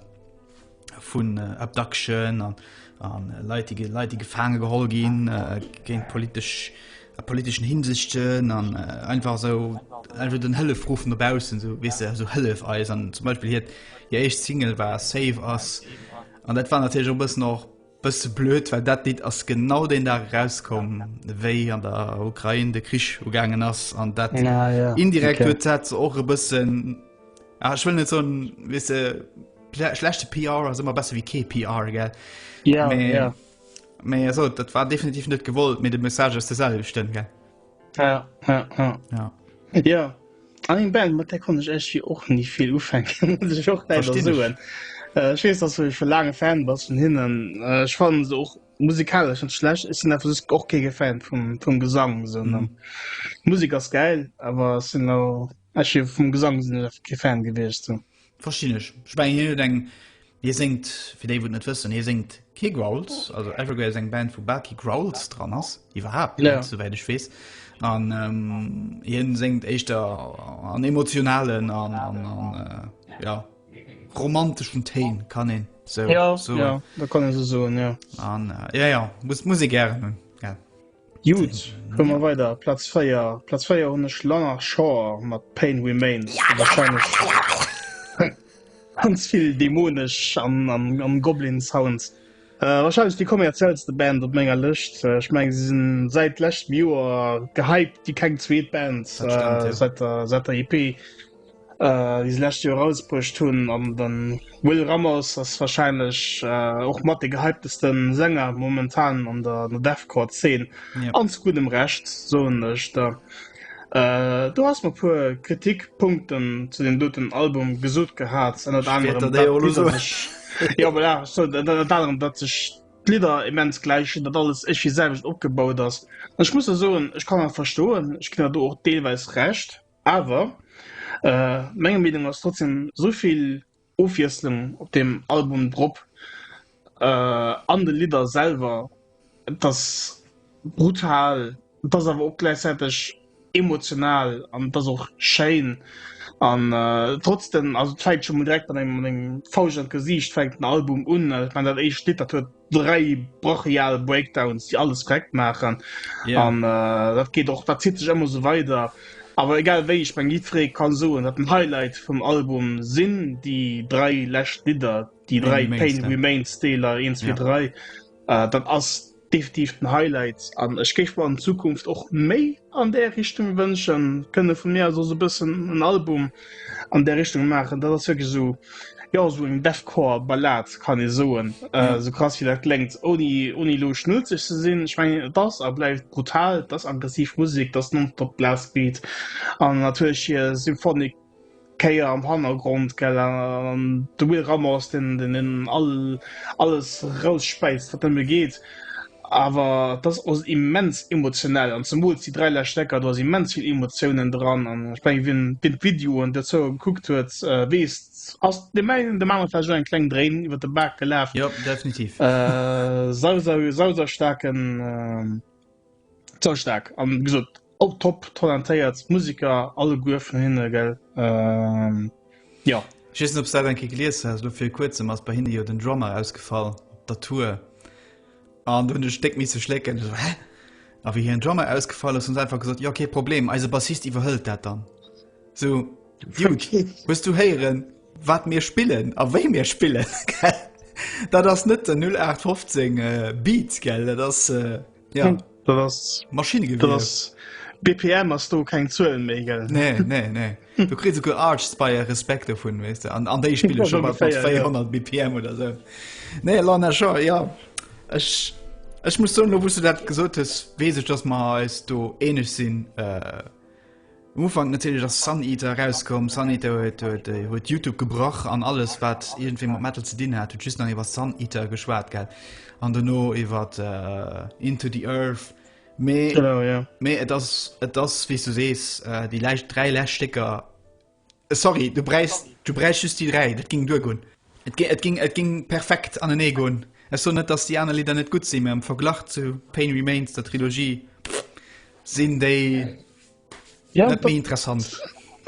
vun äh, Abduction an, an äh, Leit, déi ge Leit, déi gefaange geholl ginn, äh, géint politesch a politeschen Hinsichten an einfach esou einfach den Hëllefruff no baussen esou weess de esou hëllef eis an zum Beispiel hiert hir éischt Single war safe ass an dat war natierlech op bëssen och bësse blöd, well dat Lidd ass genau deen Dag rauskomm wéi an der Ukrain de Krich ugaangen ass an dat Ah ja. indirekt huet dat se och e bëssen ah, ich will net so weess de schle- schlechte PR ass immer besser wie kee PR gell Ja, Mee- ja. Mee eso dat war definitiv net gewollt mé de Message ass de selwechten ge. Ja, ja, ja. ja. ja. An eng Band mat der kon ech ech fir och ni vill ufänken soen. Äh, Schwees ass ech fir lange Fan was vun hinnen. Äh, ech fannen se och musikalesch net schlecht. Ech sinn einfach sech och kee Fan vum, vum Gesang so, ne? Mhm. Musik ass geil, awer sinn ech fir vum Gesang sinn ech einfach kee Fan gewiescht. So. Verstinn ech. Ech mengen hien huet eng, hie séngt, fir déi wou et net wëssen, hie séngt kee Growls, also Evergrey ass eng Band wou bal kee Growls dran ass, iwwerhaapt net, ja, souwäit ech weess, an hien séngt éischter an emotionalen an an an ja romanteschen Téin, kann een sou soen. Ja, ja, dat kann ee sou soen, ja. An ja, ja, muss d'Musek gären hunn. Gudd, hu mer weider Platz 4. Platz 4 hunn ech Lana Shore mat Pain Remains. Ja, ja, ja, ja, ja, ja. Ganz vill dämonesch an, an, an Goblin Sounds. Äh, wahrscheinlech déi kommerziellste Band op menger Lëscht. Äh, ech meng, si sinn säit leschtem Joer gehypt wéi keng zweet Band, äh, seit der, seit der EP. äh, déi se lescht Joer rausbruecht hunn. An den Will Ramos ass wahrscheinlech äh, och mat de gehyptesten Sänger momentan an der, der Deathcore-Zeen. Ja. An zu gutem Recht, so ech da. Äh, du hast mal puer Kritikpunkten zu dem doten Album gesot gehat an dat anderen dat sech Lider immens gleichen, dat alles ech wie selwicht opgebaut ass. Ech muss soen, ech kann verstoen, ich kann du och deelweis recht. Awer menger Meenung ass trotzdem souvill Ofwiesslung op deem Album drop, an de Lidder selwer, et ass brutal, et ass awer och gläichzäiteg emotional an et ass och schéin an trotz den, also et fänkt scho mol direkt mat engem Fausch an d'Gesiicht fänkt den Album un, ech mengen dat éischt Lidd dat huet dräi brachial Breakdowns, déi alles korrekt maachen. Ja. An äh, dat geet och, dat zitt sech ëmmer so weider. Awer egal wéi, ech meng jiddweree kann soen, dat den Highlight vum Album sinn déi dräi lescht Lidder, déi dräi Pain Remains, ja. Remains Deeler 1, 2, Ja. 3. Äh, dat ass definitiv den Highlight an ech géif mer an Zukunft och méi An där Richtung wënschen, kënne vu mir aus also e bëssen en Album an där Richtung maachen. Dat ass wierklech esou, jo, esou eng Deathcore Ballad, kann ee soen, esou krass wéi dat kléngt, ouni, ouni elo schnulzeg ze sinn. Ech mengen, et ass a bleift brutal, et ass aggressiv Musek, et ass nonstop Blastbeat an natierlech hir Symphonic Kéier am Hannergrond, gell, an de Will Ramos, deen, deen, deen all, alles rausspäizt, wat nëmme geet. Awer et ass och immens emotionell, an zemools déi dräi lescht Ecker, do ass immens vill Emotiounen dran. An ech menge, wien, wien d'Videoen dozou gekuckt huet, weess, ass deem engen, deem anere vläicht och eng kleng Dréin iwwert de Bak gelaf. Jo, definitiv. Äh, sau, sau, sausaustarken. Zou stark an gesot op top talentéiert Musiker alle guer vun hinne gell ähm, ja. Ich wees net ob dat enke gelies has lo fir kuerzem ass bei hinne jo den Drummer ausgefall op der Tour an hun de Stéck miss ze schlécken so, a wie hien Drummer ausgefall ass hun einfach gesot jo okay Problem eise Bassist iwwerhëlt dat dann. Sou, Dude, hues du héieren, wat mir spillen a wéi mir spillen? Dat ass net den 0815 äh, Beat gell, dat ass äh, ja, hm, dat ass Maschinegewéier. BPM ass do keng Zuelen méi gell. Nee, nee, nee. Du kritt se go Arts beiier Respekte vun wees de an an déi Spille schon mat 400 BPM oder se. Nee la na scho ja Ech Ech muss soun, wouss du dat gesot hues, wees ech dats ma eis do eneg sinn. Äh, Um Ufank natierlech ass Sun Eater erauskomm. Sun Eater huet, huet, äh, huet YouTube gebrach an alles, wat iergendwéi mat Metal ze dinn hat, huet just nach iwwer Sun Eater geschwat, gell? An dono iwwer äh, Into the Earth. Mee, genau, ja. mee et ass, et ass, wéi du sees, äh, déi läich, dräi läscht Stécker Sorry, du bräichs du bräichs just déi dräi, dat ging duergoen. Et ging et ging et ging perfekt anenee goen. Ech soen net, dass déi aner Lidder net gutt sinn, mä am Verglach zu Pain Remains, der Trilogie, sinn déi ja, net méi interessant.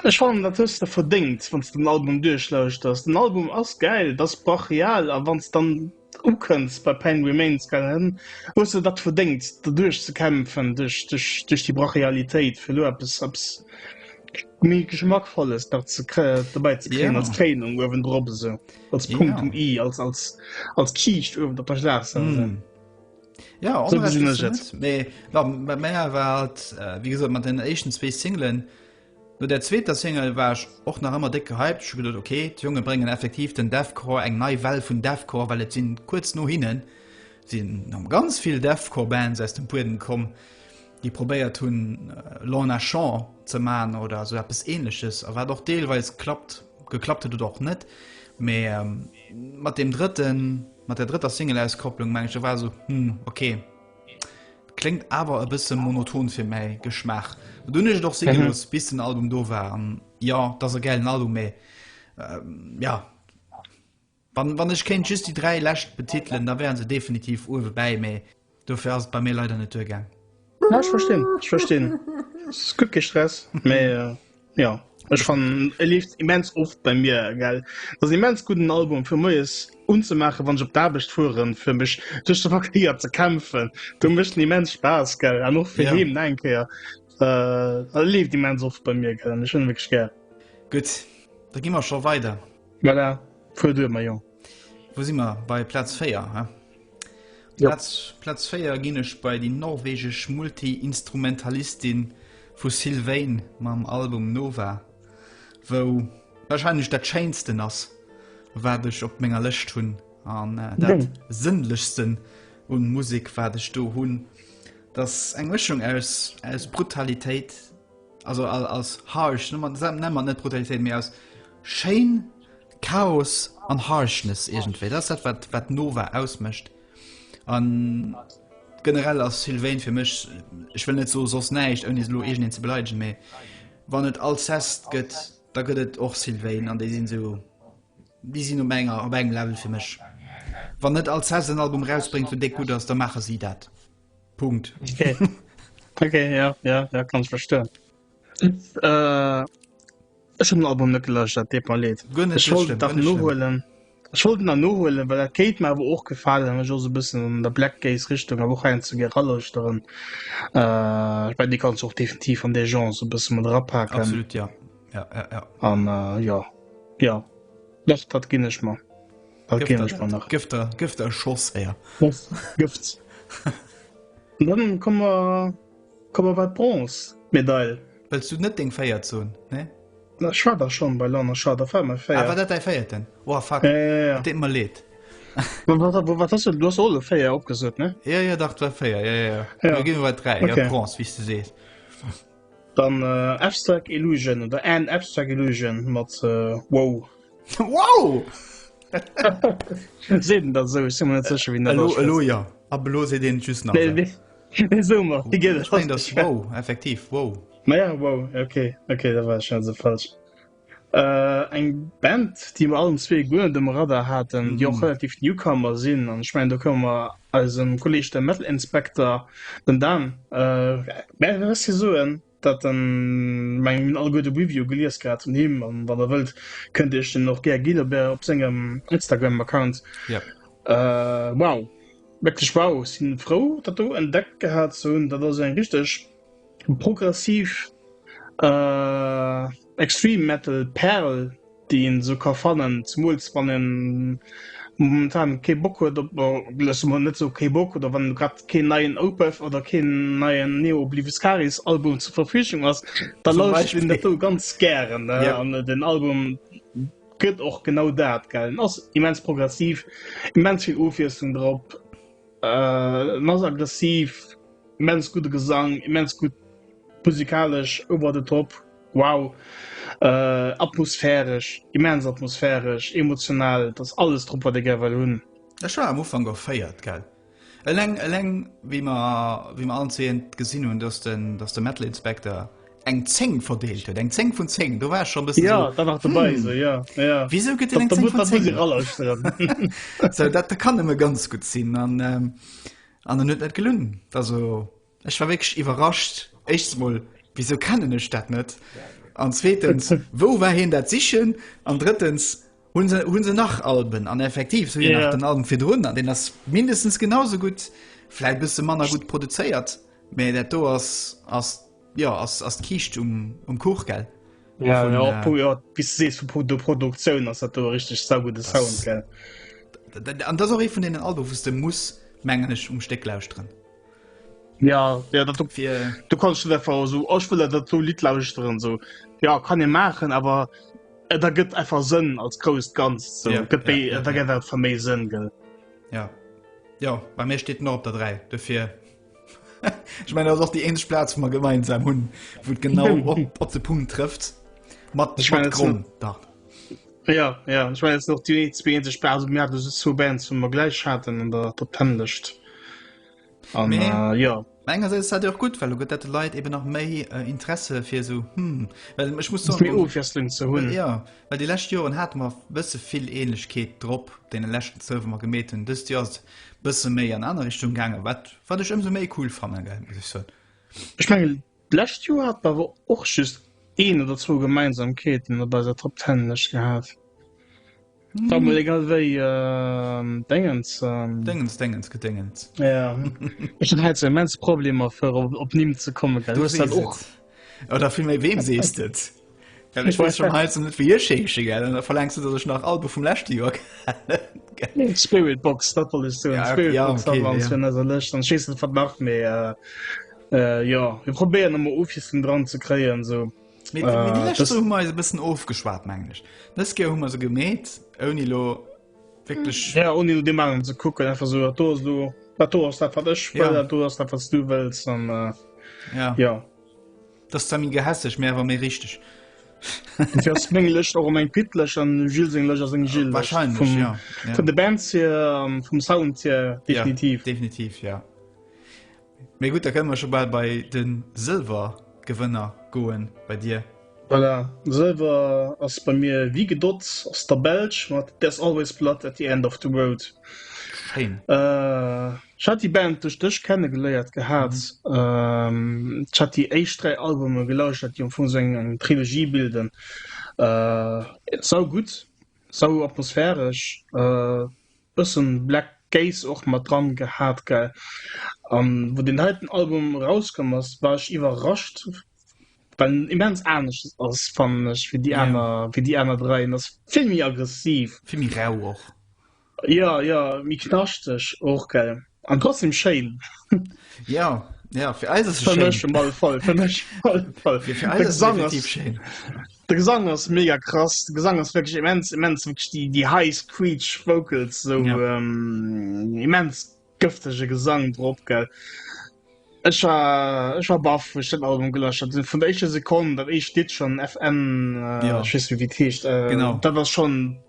Ech fannen dat hues de verdéngt, wann s de den Album duerchlauschters. Den Album ass gäil, et ass brachial a wann s dann Ukënns bei Pain Remains, gell? Hm? Hues de dat verdéngt, der duerch ze kämpfen, duerch, duerch, duerch déi Brachialitéit, fir elo eppes, eppes méi Geschmackvolles nach ze krä- dobäi ze kréien, Ja. als Kréinung uewendrop, esou, als Ja. Punkt um i, als, als, als Kiischt uewen op der Schlagzeil. Mm. esou. Ja, So onrecht gesinn hues ech du et. net. Mee, wa- bei mär war et, äh, wéi gesot, mat den éischten zwee Singlen, No der zweeter Single war ech och nach ëmmer déck gehypt. Ech hu geduet, ok, d'Jonge bréngen effektiv den Deathcore, eng nei Well vun Deathcore, well et sinn kuerz no hinne sinn nom ganz vill Deathcore Bands aus dem Buedem komm, déi probéiert hunn Lorna Shore ze man oder sou eppes ähnleches a wat och deelweis klappt, geklappt huet oder och net. Mee mat deem drëtten, mat der drëtter Single-Auskopplung, mengen ech, do war esou, hm, ok. Kléngt awer e bësse monoton fir mäi Geschmaach. Du hunn ech et och si gelooss, mhm. bis den Album do war. An ja, dat ass e gäilen Album, mä ähm, ja. Wann, wann ech kéint just déi dräi Läscht betitelen, da wären se definitiv uewe bäi, mä dofir ass et bei mir leider net duergaang. Ja, ich verstehen. Ich verstehen. Es ist gut gestresst, mais. Äh, Ja ech fannen e leeft immens oft bei mir gell. Dat ass e immens gudden Album fir moies unzemaachen, wann ech op d'Aarbecht fueren, fir mech duerch de Verkéier ze kämpfen. Do mécht en immens Spaass gell an och fir Ja. heem no eng Kéier. Äh, e leeft immens oft bei mir gell an ech hunn e wierklech gär. Gutt, da gi mer scho weider. Voilà, fuer duer, Maillon. Wou si mer bei Platz 4 he? Platz 4 ginnech bei déi norwegesch Multiinstrumentalistin vu Sylvain mam Album Nova, wou warscheinlech dat schéinsten ass, wat ech op menger Lëscht hunn, an dat sënnlechsten un Musek, wat ech do hunn. Dat ass eng Mëschung aus Brutalitéit, Also als harsh, nennen man net Brutalitéit, mee als schéin Chaos an Harshness irgendwéi. Dat ass dat, wat Nova ausmécht. An generell ass Sylvain fir mech, ech wëll net so soss näischt, ouni elo irgendeen ze beleidegen, mee wann et Alcest gëtt, da gëtt et och Sylvain an déi sinn esou, déi sinn op enger, op engem Level fir mech. Wann net Alcest en Album erausbréngt, deen déck gutt ass, da maache si dat. Punkt. Okay. okay, ja, ja, ja, kann ich verstehen. Äh, ich habe den Album nicht gelöscht, das tut mir leid. Ich wollte das nur holen. Ich wollte das nur holen, weil das geht mir aber auch gefallen, wenn ich auch so ein bisschen in der Black Gaze Richtung, aber auch ein zu Gerallösteren. Äh, ich meine, die kannst du auch definitiv an der Genre so ein bisschen mit rapacken. Absolut, ja. Ja, ja, ja. Und, äh, ja. Ja, das, das ging ich mal. Gëfter Gëfter e Schoss éier Gëft Dann kommmer kommmer wat Bronze Medail. Wëlls du net deng féiert zon? Nee? Na schwa der schonn bei Lanner Scha der Fa méi féier. Awer dat däi féierten? Oa fa Deet mer leet. wat ass du ass alle féier opgesot ne? Ja ja dach dat war féier ja ja. Ginn wer wat dräi Bronze wéi s du sees. Dann äh, Abstract Illusion oder An Abstract Illusion mat äh, Wow. wow! Sinn dat sou si net zeche wien Elo ja a belo se den just nach Summer Di gët effektiv wow. Maja wow okay okay da war se falsch. Eng Band, déi mer allen zwee guer net um Radar haten, déi och relativ Newcomer sinn. An ech mengen, do komme mer eisem Kolleeg dem Metal Inspector, dem Dan, bäi Merci soen, dat en, mengen, mir hunn alleguer de Review gelies gehat vun him. An wann der wëllt, kënnt Dir Iech deen och gär ginn op sengem Instagram-Account. Wow, wierklech wow! Ech si frou, dat do entdeckt gehat ze hunn. Dat ass eng richteg. Progressiv Extreme Metal Pärel déi een esou ka fannen, zemools wann een momentan kee Bock huet op, loosse mer mol net soe kee Bock, oder wann grad keen neien Opeth oder keen neien Neo Obliviscaris Album zur Verfügung ass, da lauschtert een dat do ganz gären ne. An den Album gëtt och genau dat gell, en ass immens progressiv, immens vill Ofwiesslung drop, en ass aggressiv. Immens gudde Gesang, immens gutt musikalesch, over the top, wow, atmosphäresch, immens atmosphäresch, emotional, et ass alles drop, wat ee gär well hunn. Ech war am Ufank erféiert, gell. Eleng, eleng wéi mer, wéi mer allen zwéin gesinn hunn, dass de, dass de Metal Inspector eng 10 verdeelt huet, eng 10 vun 10, do war ech scho e bëssen esou, hm, wisou gëtt deen eng 10 vun 10? Esou, dat kann nëmme ganz gutt sinn. An an en huet net gelunn. Also ech war wéineg iwwerrascht éischs mol wieso kennen ech dat net an zweetens wou war hien dat sichen an dëttens hunn se hunn se nach Alben an effektiv so yeah. den Alben fir runnner den ass mindestens genauso gut fläit bis se manner gut produzéiert méi dat do ass ass Jo ass ass d'Kiischt um um Kuch gell? Ja vun, och pu jo wéi s du sees vu Pro der Produktioun ass dat do e richteg saugude Sound gell. Dat dat an dat ass och ee vun deenen Alben wou s de muss mengen ech um Stéck lauschteren. Ja ja dat op fir du kanns net einfach esou och wëll der dat do Lidd lauschteren esou ja kann ee maachen awer et ergëtt einfach Sënn als grousst Ganzt esou Ja, gëtt ja, méi ja, et ergëtt einfach méi Sënn gell. Ja jo bei mir steet en och op der 3 dofir. Ech meine ass och déi eenzeg Plaz vu mer gemeinsam hunn, wou et genau op de Punkt trëfft mat ech mein Gronn da. Ja ja ech mein noch déi zwee sech Bas Mä du zu Band zu mer gläich haten an der der Tënlecht. An äh, ja. Menger se dat och gut, well gëtt dat Leiit eben nach méi äh, Interesse fir so hm, well ech muss so, um, ze hunn. Ja. Well déi lescht Joren hate mer bësse vill Ähnlechkeet drop deene leschten zwou, wou mer gemeet hunn, dëst Joer ass et bësse méi an aner Richtung gaangen, wat wat ech ëmsou méi cool fannen, gell, muss ech soen. Ech mengen, d'lescht Joer hate mer awer och just een oder zwou Gemeinsamkeeten op eiser Top Ten Lëscht gehat. Dann mol egal wéi Déngens. Déngens, Déngens, Gedéngens. Ja. Ech hunn hei sou immens Problemer fir op Nimm ze kommen, gell. Du hues dat och. Oder vill méi weem sees et? Well ech wees schon heizen net wie Scheche gell an da verlängst du, datt ech nach Albe vum läschte Joer kennen. Spiritbox, dat wollt ech soen. Ja, okay, ja, Spiritbox okay, ass ja. an eiser Lëscht, dann schees et wat nach méi. Äh, äh, jo, mir probéieren ëmmer Offissen dran ze kréien, so. Mee, mee déi Äh, lescht das- Woch hu mer eis e bëssen ofgeschwat, mengen ech. Dës Keer hu mer se gemeet, ouni lo Wirklich. Ja, ohne nur dem anderen zu gucken, einfach so, da hast du, da hast du, was ich will, ja. da hast du, was du willst. Und, äh, ja. ja. Das ist dann gehässig, mehr war mir richtig. Dufir ass mengg Lëcht och eng Pitlech an Gil seng Lëch ass eng Gil Wahrscheinlech vum, ja. Ja. vun de Bands hier, ähm, vum Sound hier, definitiv. Ja, definitiv ja. Mee gutt, da kënne mer scho bal bei de Sëlwergewënner goen, bei dir. Voilà, Sëlwer ass bei mir wie gedott, ass der Belsch mat There's Always Blood at the End of the Road. Schéin. Ech hat déi Band duerch dech kennegeléiert gehat. Ech hat déi éischt dräi Albume gelauschtert, déi am Fong esou eng Trilogie bilden. Saugutt, sauatmosphäresch. Bëssen Black Gaze och mat dran gehaat gell? An wou deen heiten Album rauskomm ass war ech iwwerrascht well en immens aanescht ass fannen ech wéi déi aaner, wéi déi aaner dräi. En ass vill méi aggressiv. Vill méi rauh och. Jo, jo, méi knaschteg och gell? An trotzdem schéin. Ja, ja, fir eis ass schéin. Fir mech all voll, fir mech all voll. Fir eis ass definitiv schéin. De Gesang ass mega krass, de Gesang ass wirklich immens, immens, wirklich die, die high screech vocals, so ja. ähm, immens gëftege Gesang drop, gell. Ech war, ech war baff, wo ich den Album gelöscht hat. Von der ersten Sekunde, dat ich dit schon FN, äh, ja. ich weiß nicht, wie das heißt, äh, genau. dat war schon,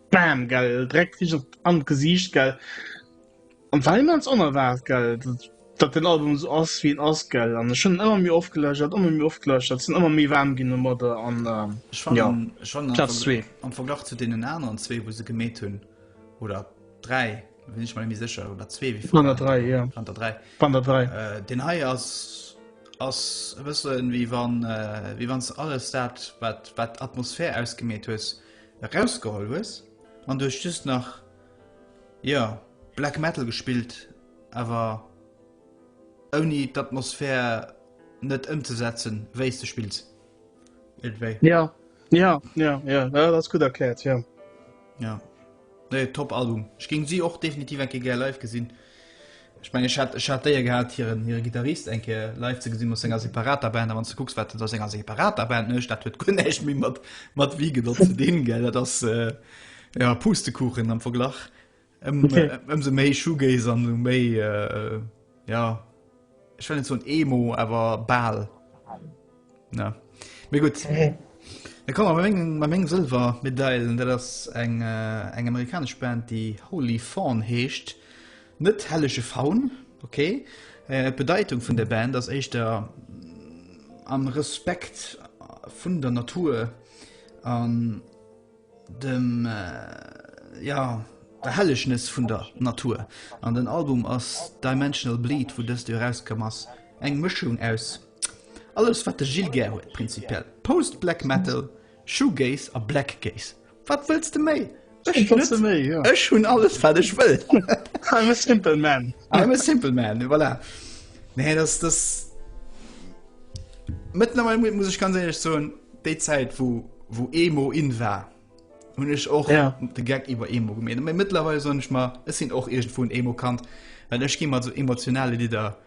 bam, gell, direkt richtig an Gesicht, gell. An war immens onerwaart gell, datt den Album esou ass wéi en ass gell, an ech hunn en ëmmer méi oft gelauschtert, ëmmer méi oft gelauschtert, sinn ëmmer méi waarm ginn domat, an jo, Platz zwee. Am Verglach zu deenen aneren zwee wou se gemeet hunn, oder dräi, sinn ech mer net méi sécher, oder zwee wéi vun der dräi, vun der dräi, deen hei ass ass e bësse wéi wann wéi wann s alles dat wat wat d'Atmosphär ausgemeet hues erausgeholl hues an du hues just nach Jo, Black Metal gespillt, awer ouni d'Atmosphär net ëmzesetzen, wéi s de spills. Iergendwéi. Ja, ja, ja, ja, dat ass gutt erkläert, jo. Jo. Nee, top Album. Ech géing si och definitiv eng Kéier gär live gesinn. Ech mengen, ech hat, ech hat d'Éier gehat, hiren, hire Gittarist eng Kéier live ze gesinn, mat senger separater Band. A wann s de kucks, wat en a senger separater Band mécht, dat huet guer näischt méi mat, mat Wiegel och ze dinn, gell? Dat ass, jo, Pustekuchen am Verglach. Ëm, ëmsou méi Shoegaze an ëmsou méi, jo. Ech well net soen Emo, awer bal. Na. Mee gutt. Da komme mer bei mengem, bei mengem Sëlwermedailen. Dat ass eng, äh, eng amerikanesch Band, déi Holy Fawn heescht. Net hellege Faun, okay. Äh, d'Bedeitung vun der Band ass éischter am Respekt vun der Natur an, dem ja der Hellegnis vun der Natur an den Album ass Dimensional Bleed wou dëst jo erauskomm ass eng Mëschung aus alles wat de Gilles gär huet, prinzipiell Post Black Metal, Shoegaze a Black Gaze, wat wëlls de méi? Ech hunn alles wat ech wëll, I'm a simple man, I'm a simple man, voilà nee dass dass mëttlerweil muss ech ganz éierlech soen. Déi Zäit wou wou Emo in war hunn ech och ja. de Geck iwwer Emo gemeen. Mei mittlerweile sonn ich mal es sinn och egent vun Emo kant, well ech gi mat so emotionale Lider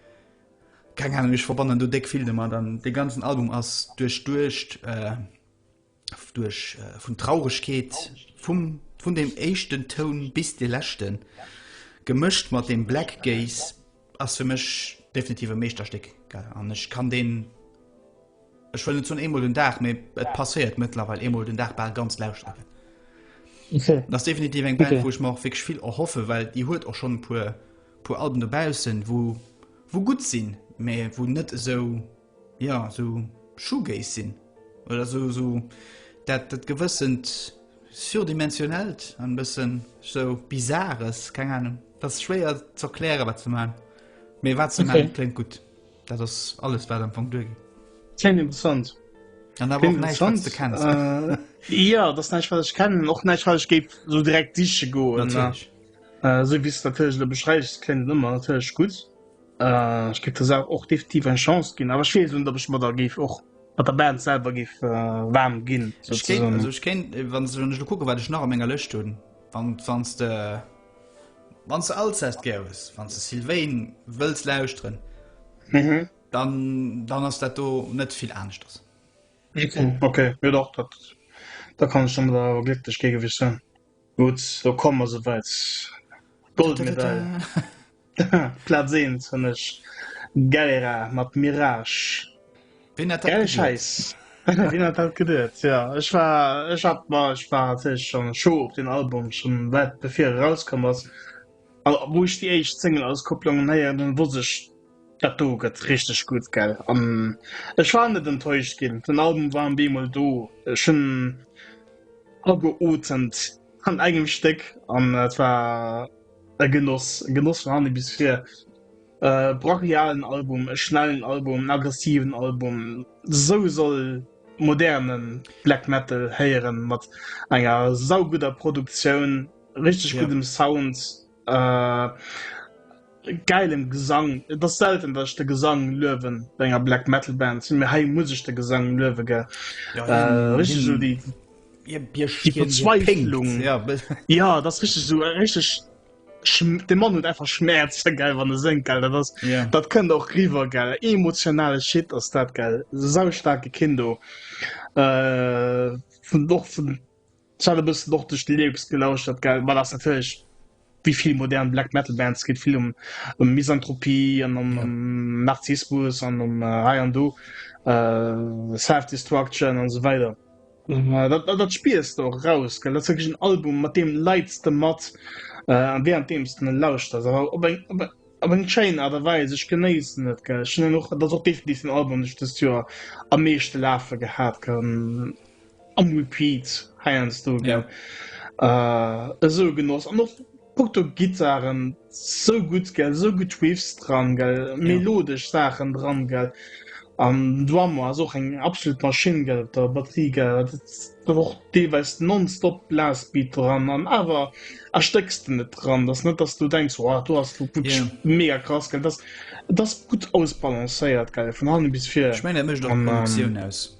keng Ahnung ich verbannen du deck viel demmer dann de ganzen Album ass duerch duercht äh, duerch äh, vun Traurigkeet vum vun dem echten Toun bis de lächten gemëscht mat dem Black Gaze ass fir mech definitiv e Meeschterstéck an ech kann den Ech wëll net zun eemol den Dag méi et passéiert mëttlerweil eemol den Dag bal ganz lauschteren. Okay. Das definitiv eng Band, okay. wo ich mach fig viel erhoffe, weil die huet auch schon pur pur Alben dobausen, wo wo gut sinn, me wo net so jo sou Shoegaze sinn oder sou sou dat dat gewëssent surdimensionellt an bëssen sou Bizarres, keng Ahnung, ass schwéier z'erkläre wat ze man, mee wat ze man kléngt gutt, dat ass alles wat am Fong duergeet. Kléngt interessant. An awer och näischt wat s de kenns. Jo dat ass näischt wat ech kennen, och näischt wat ech géif sou direkt siche goen, natierlech, sou wéi s de natierlech elo beschreiws kléngt et ëmmer natierlech gutt. Äh, ech géif der Saach och definitiv eng Chance ginn, awer ech weess net, ob ech mer da géif och mat der Band selwer géif äh, waarm ginn. Ech kéint, sozusagen. also ech kéint, äh, wann wann ech lo kucke wat ech nach a menger Lëscht hunn, wann wann s de wann s de Alcest gär hues, wann s de Sylvain wëlls lauschteren, Mhm. dann dann ass dat do net vill aneschters. Okay, okay. Jo dach, dat, da kann ech der mer awer glécklech géigewich sinn. Gutt, do komme mer souwäit. Goldmedail, Plaz 1 hunn ech Galera mat Mirage. Wien hätt dat geduet? Wien hätt dat geduet, jo. Ech war, ech hat mer, ech war natierlech schonn Show op deen Album, schonn wäit bevir e rauskomm ass. A wou ech déi éischt Single-Auskopplungen héieren hunn, wosst ech, Dat do gëtt richteg gutt gell an ech war net enttäuscht ginn. Den Album war beemol do ech hunn ageuetemt an engem Stéck an et war e Genoss, e Genoss vun hanne bis vir. E brachialen Album, e schnellen Album, en aggressiven Album, esou soll moderne Black Metal héieren mat enger saugudder Produktioun, richteg guddem Sound. Äh, geilen Gesang. Et ass selten, dass ich de Gesang löwen bei enger Black Metal Band. Sind mir hei muss ich de Gesang löwen, gell? Ja, äh, richtig so die, die Verzweiflung. Ja. ja, das ist richtig so, äh, richtig. Der Mann hat einfach Schmerz, gell, wenn er singt, gell. Das, ist, ja. das könnte auch rüber, gell. Emotionale Shit ist das, gell. So starke Kinder. Äh, von, doch von Ech hat e bëssen och duerch de Lyrics gelauschtert, gell, ma dat ass natierlech wéi vill modern Black Metal Bands, geet vill ëm ëm Misanthropie an ëm ëm Narzissmus an ëm hei an do Self Destruction an esou weider. Dat dat spiers de och eraus, gell, dat ass wierklech en Album mat deem leits de mat a während deems de en lauschterst, awer op eng op op eng schéin Aart a Weis. Ech genéissen et, gell, ech hunn en och, dat ass och definitiv den Album deen ech dëst Joer am meeschte lafe gehat, gell. Am Repeat heiansdo, gell. Ja. Äh, esou genoss. An och punkto Gittaren, sou gutt, gell, sou gutt Riffs dran, gell, Ja. melodesch Saachen dran, gell. An den Drummer ass och eng absolut Maschinn, gell, op der Batterie, gell. Dat ass dann och deelweis nonstop Blastbeat dran an awer erstécks de net dran. Dat ass net, dass du denks, Wow, do ass lo wierklech Ja. mega krass, gell. Dat ass, dat ass gutt ausbalancéiert, gell, vun hannen bis vir. Ech mengen, dat mécht och An, ähm, d'Produktioun aus.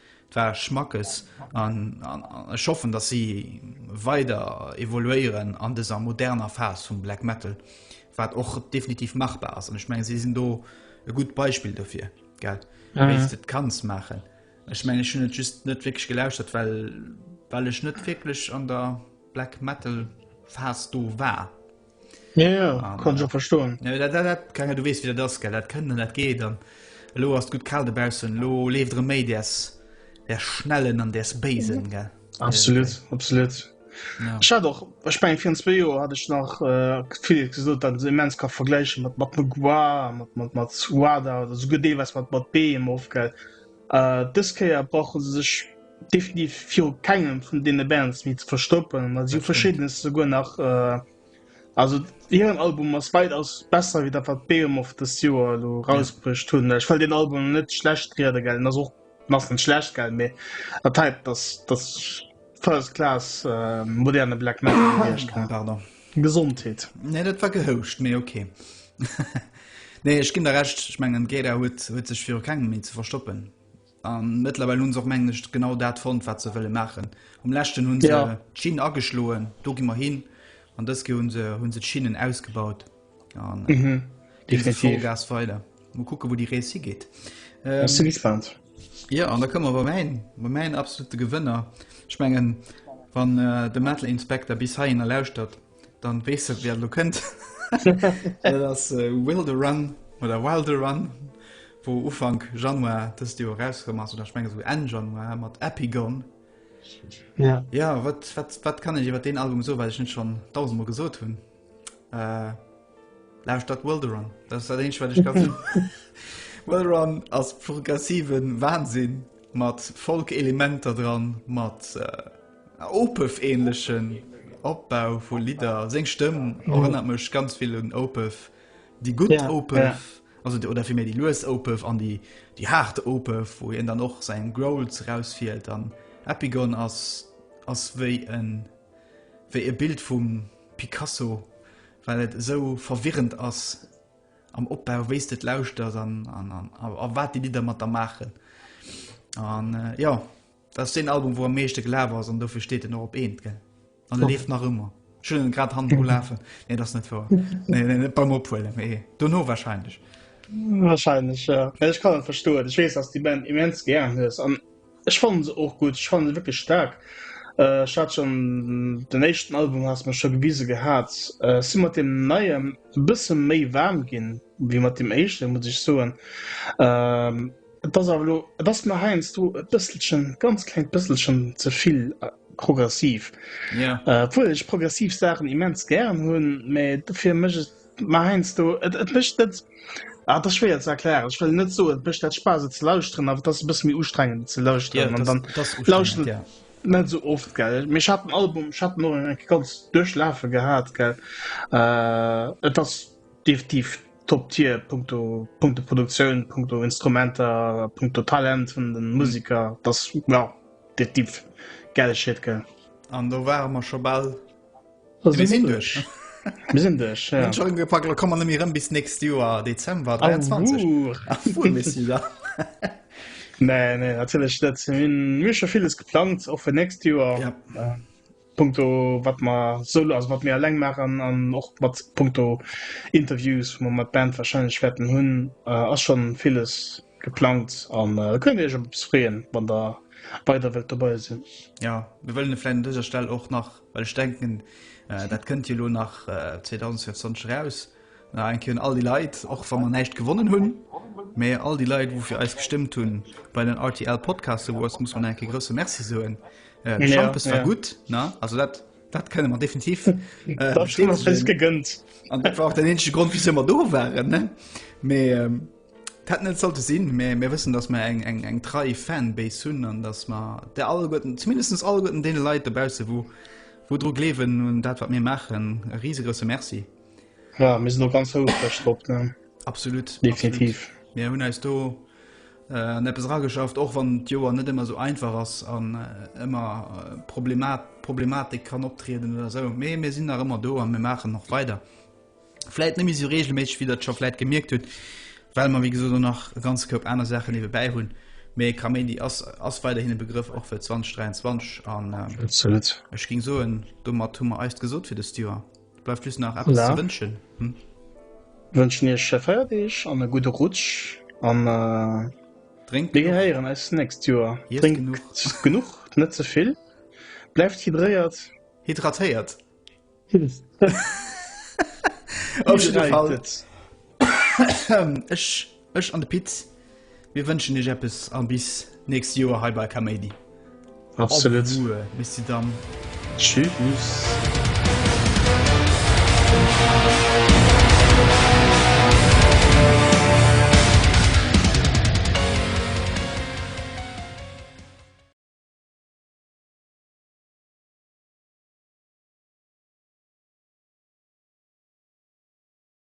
Et war Schmackes an ech hoffen, dass si weider evoluéieren an dëser moderner Phas vum Black Metal, wat och definitiv machbar ass. An ech menge si sinn do e gutt Beispill dofir gell, mhm. wéi du et kanns maachen. Ech menge hun et just net wg gelauschtert, well well ech net wieklech an der Black Metal Phas do war. Ja, ja, ah, kann ich auch verstoen. Ja, dat, dat, dat, kann, du wees wie das ge dat kënnen dat geet dann lo ass gut kal debausen lo leeft re méi ders der schnellen an der Spaen ge absolut ja. absolut Scha ja. doch ech bei 24 Joer hat ech nach äh, viel gesot dat se mens ka vergleichen mat mat Magua mat mat mat Suada oder so gedee was mat mat Beem ofgeld äh, Diskeier brauchen se sech Definitiv fir kengem vun deene Bands méi ze verstoppen, mat si verschiddenes souguer nach äh, also hiren Album ass weit ass besser wéi dat wat Beem of the Sewer lo rausbruecht hunn. Ja. Ech well den Album net schlecht riede gell, ass och ass net schlecht gell, méi dat hei dass das First Class äh, moderne Black Metal Gesondheet. Nee, dat war gehouscht, méi okay. nee, ech ginn der recht, ech mengen Gera huet huet sech viru kengem méi ze verstoppen. A mëttlerweil hunn se och, mengen ech, genau dat fonnt, wat se wëlle maachen. Um leschten hunn se ja. d'Schinn ageschloen, do gi mer hin. An dës Ke hunn se, hunn se d'Schinnen ausgebaut. An äh, mhm. definitiv Gas weiter. Mo kucke wou die Rees hi geet. Ähm, du gespannt. Ja an da këmmer wer mein ma mein absolute Gewënner. Schmengen wann äh, de Metal Inspektor bis haien erlauschtert, Dann wees du wer lo kënnt. Dat ass äh, Wilde Run oder Wilde Run, wo Ufank Januar dëst Joer rauskëm ass oder schmenge so Enn Januar mat Epigon. Ja. Ja, wat, wat, wat kann ech iwwer den Album so, well ech net schon tausendmal gesot hunn. Äh, Lausch dat Wilde Run. Dat ass dat eenzeg, wat ech kann. Wilde Run ass progressiven Wahnsinn mat Folk-Elementer dran, mat äh, Opeth-ähnlechen Opbau vu Lidder. Seng Stëmm erënnert mech ganz vill un Opeth, déi gutt Opeth, also oder vill méi déi lues Opeth an déi déi haart Opeth, wou hien dann och säin Growls erausfiert an Epigon ass ass wéi en wéi e Bild vum Picasso, well et esou verwirrend ass am Opbau, wéi s de et lauschters an a wat déi Lidder mat der maachen an jo. Dat ass deen Album wou am meeschte gelaf ass an dofir steet en och op eent gell an der leeft nach ëmmer schëllen grad han ulafen nee dat net vor beim ophuele mee do no wahrscheinlech wahrscheinlech ja. ich kann verstoen ich wees ass die Band immens gern hues an ech fan se och gut fan se wirklich stark äh, hat schon den echten Album hast man schon gewise gehabt äh, si mat dem neiem bësse méi warm gin wie mat dem echten muss ich soen ähm, Et ass awer elo, et ass mer heiansdo e bësselchen, e ganz klengt bësselchen ze vill progressiv. Ja. Äh, obwuel ech progressiv Sachen immens gären hunn, mä dofir mécht et mer heiansdo, et, et mécht net, ah, das ist schwer ze erklären. Ech wëll net soen, et mécht dat Spaass et ze lauschteren, awer et ass e bësse méi ustrengend ze lauschteren Ja, an das, dann das ist ustrengend, lauschteren ja. net sou oft, gell. Mee ech hat den Album, ech hat den och eng ganz duerchlafe gehat, gell. Äh, et ass Definitiv Top Tier punkto punkto Produktioun, punkto Instrumenter, punkto Talent vun den Musiker, dass ja definitiv gäile Shit gell. An do ware mer scho bal gepackt lo kommen mir rëm bis nächst Joer Dezember 23 Nee, nee natierlech net hunn mir scho villes geplangt och fir nächst Joer. Punkto wat mer solo, also wat mir eleng maachen an och mat Punkto Interviews, wou mer mat Band warscheinlech wäerten hunn, ass schonn villes geplangt an da kënnt Dir Iech op eppes freeën, wann Der weider wëllt dobei sinn. Jo, mir wëllen vläicht un dëser Stell och nach, well ech denken, dat kënnt jo elo nach 2024 eraus, Danke un all déi Leit, och wa mer näischt gewonnen hunn, mä all déi Leit wou fir eis gestëmmt hunn. Bei den rtl Podcast Awards muss mer nach eng Kéier e grousse Merci soen. De Schampes war gutt, ne? Also dat, dat kënne mer definitiv bestätegen. An dat war och den eenzege Grond wisou mer do waren, ne? Mä et hätt net sollte sinn, mä mir wëssen, datt mer eng, eng, eng trei Fanbase hunn an datt mer där alleguerten, zumindest alleguerten deene Leit dobausse wou, wou dru gleewen un dat wat mir maachen, e risegrousse Merci. Ja, mir sinn och ganz houfreg drop, ne? Absolut. Definitiv. Absolut. Mir hunn eis do äh, an eppes rageschafft, och wann d'Joer net ëmmer so einfach ass an äh, ëmmer äh, Problemat, Problematik kann optrieden oder so. Mee mir sinn nach ëmmer do an mir maachen noch weider. Vläit nëmi so regelméig wie dat scho vläit gemierkt huet, well man wie gesot do nach ganz Koup aner Sachen iwwe bäi hunn. Mee Kaméidi ass ass weider hinne Begrëff och fir 2023 an äh, Absolut. ech ging soen, domat hu mer eist gesot fir de Steer. Bleift just nach eppes ze wënschen. Hm? Wënschen iech sche Feierdeeg an e gudde Rutsch an äh, Drénkt mir gehéieren eis nächst Joer. Drénkt genuch, genuch net ze vill. Bleift hydréiert. Hydratéiert. Hydréiert. Ech, ech an de Pit, mir wënschen iech eppes a bis nächst Joer hei bei Kaméidi. Absolut. Au revoir, Messi Damm. Tschüss.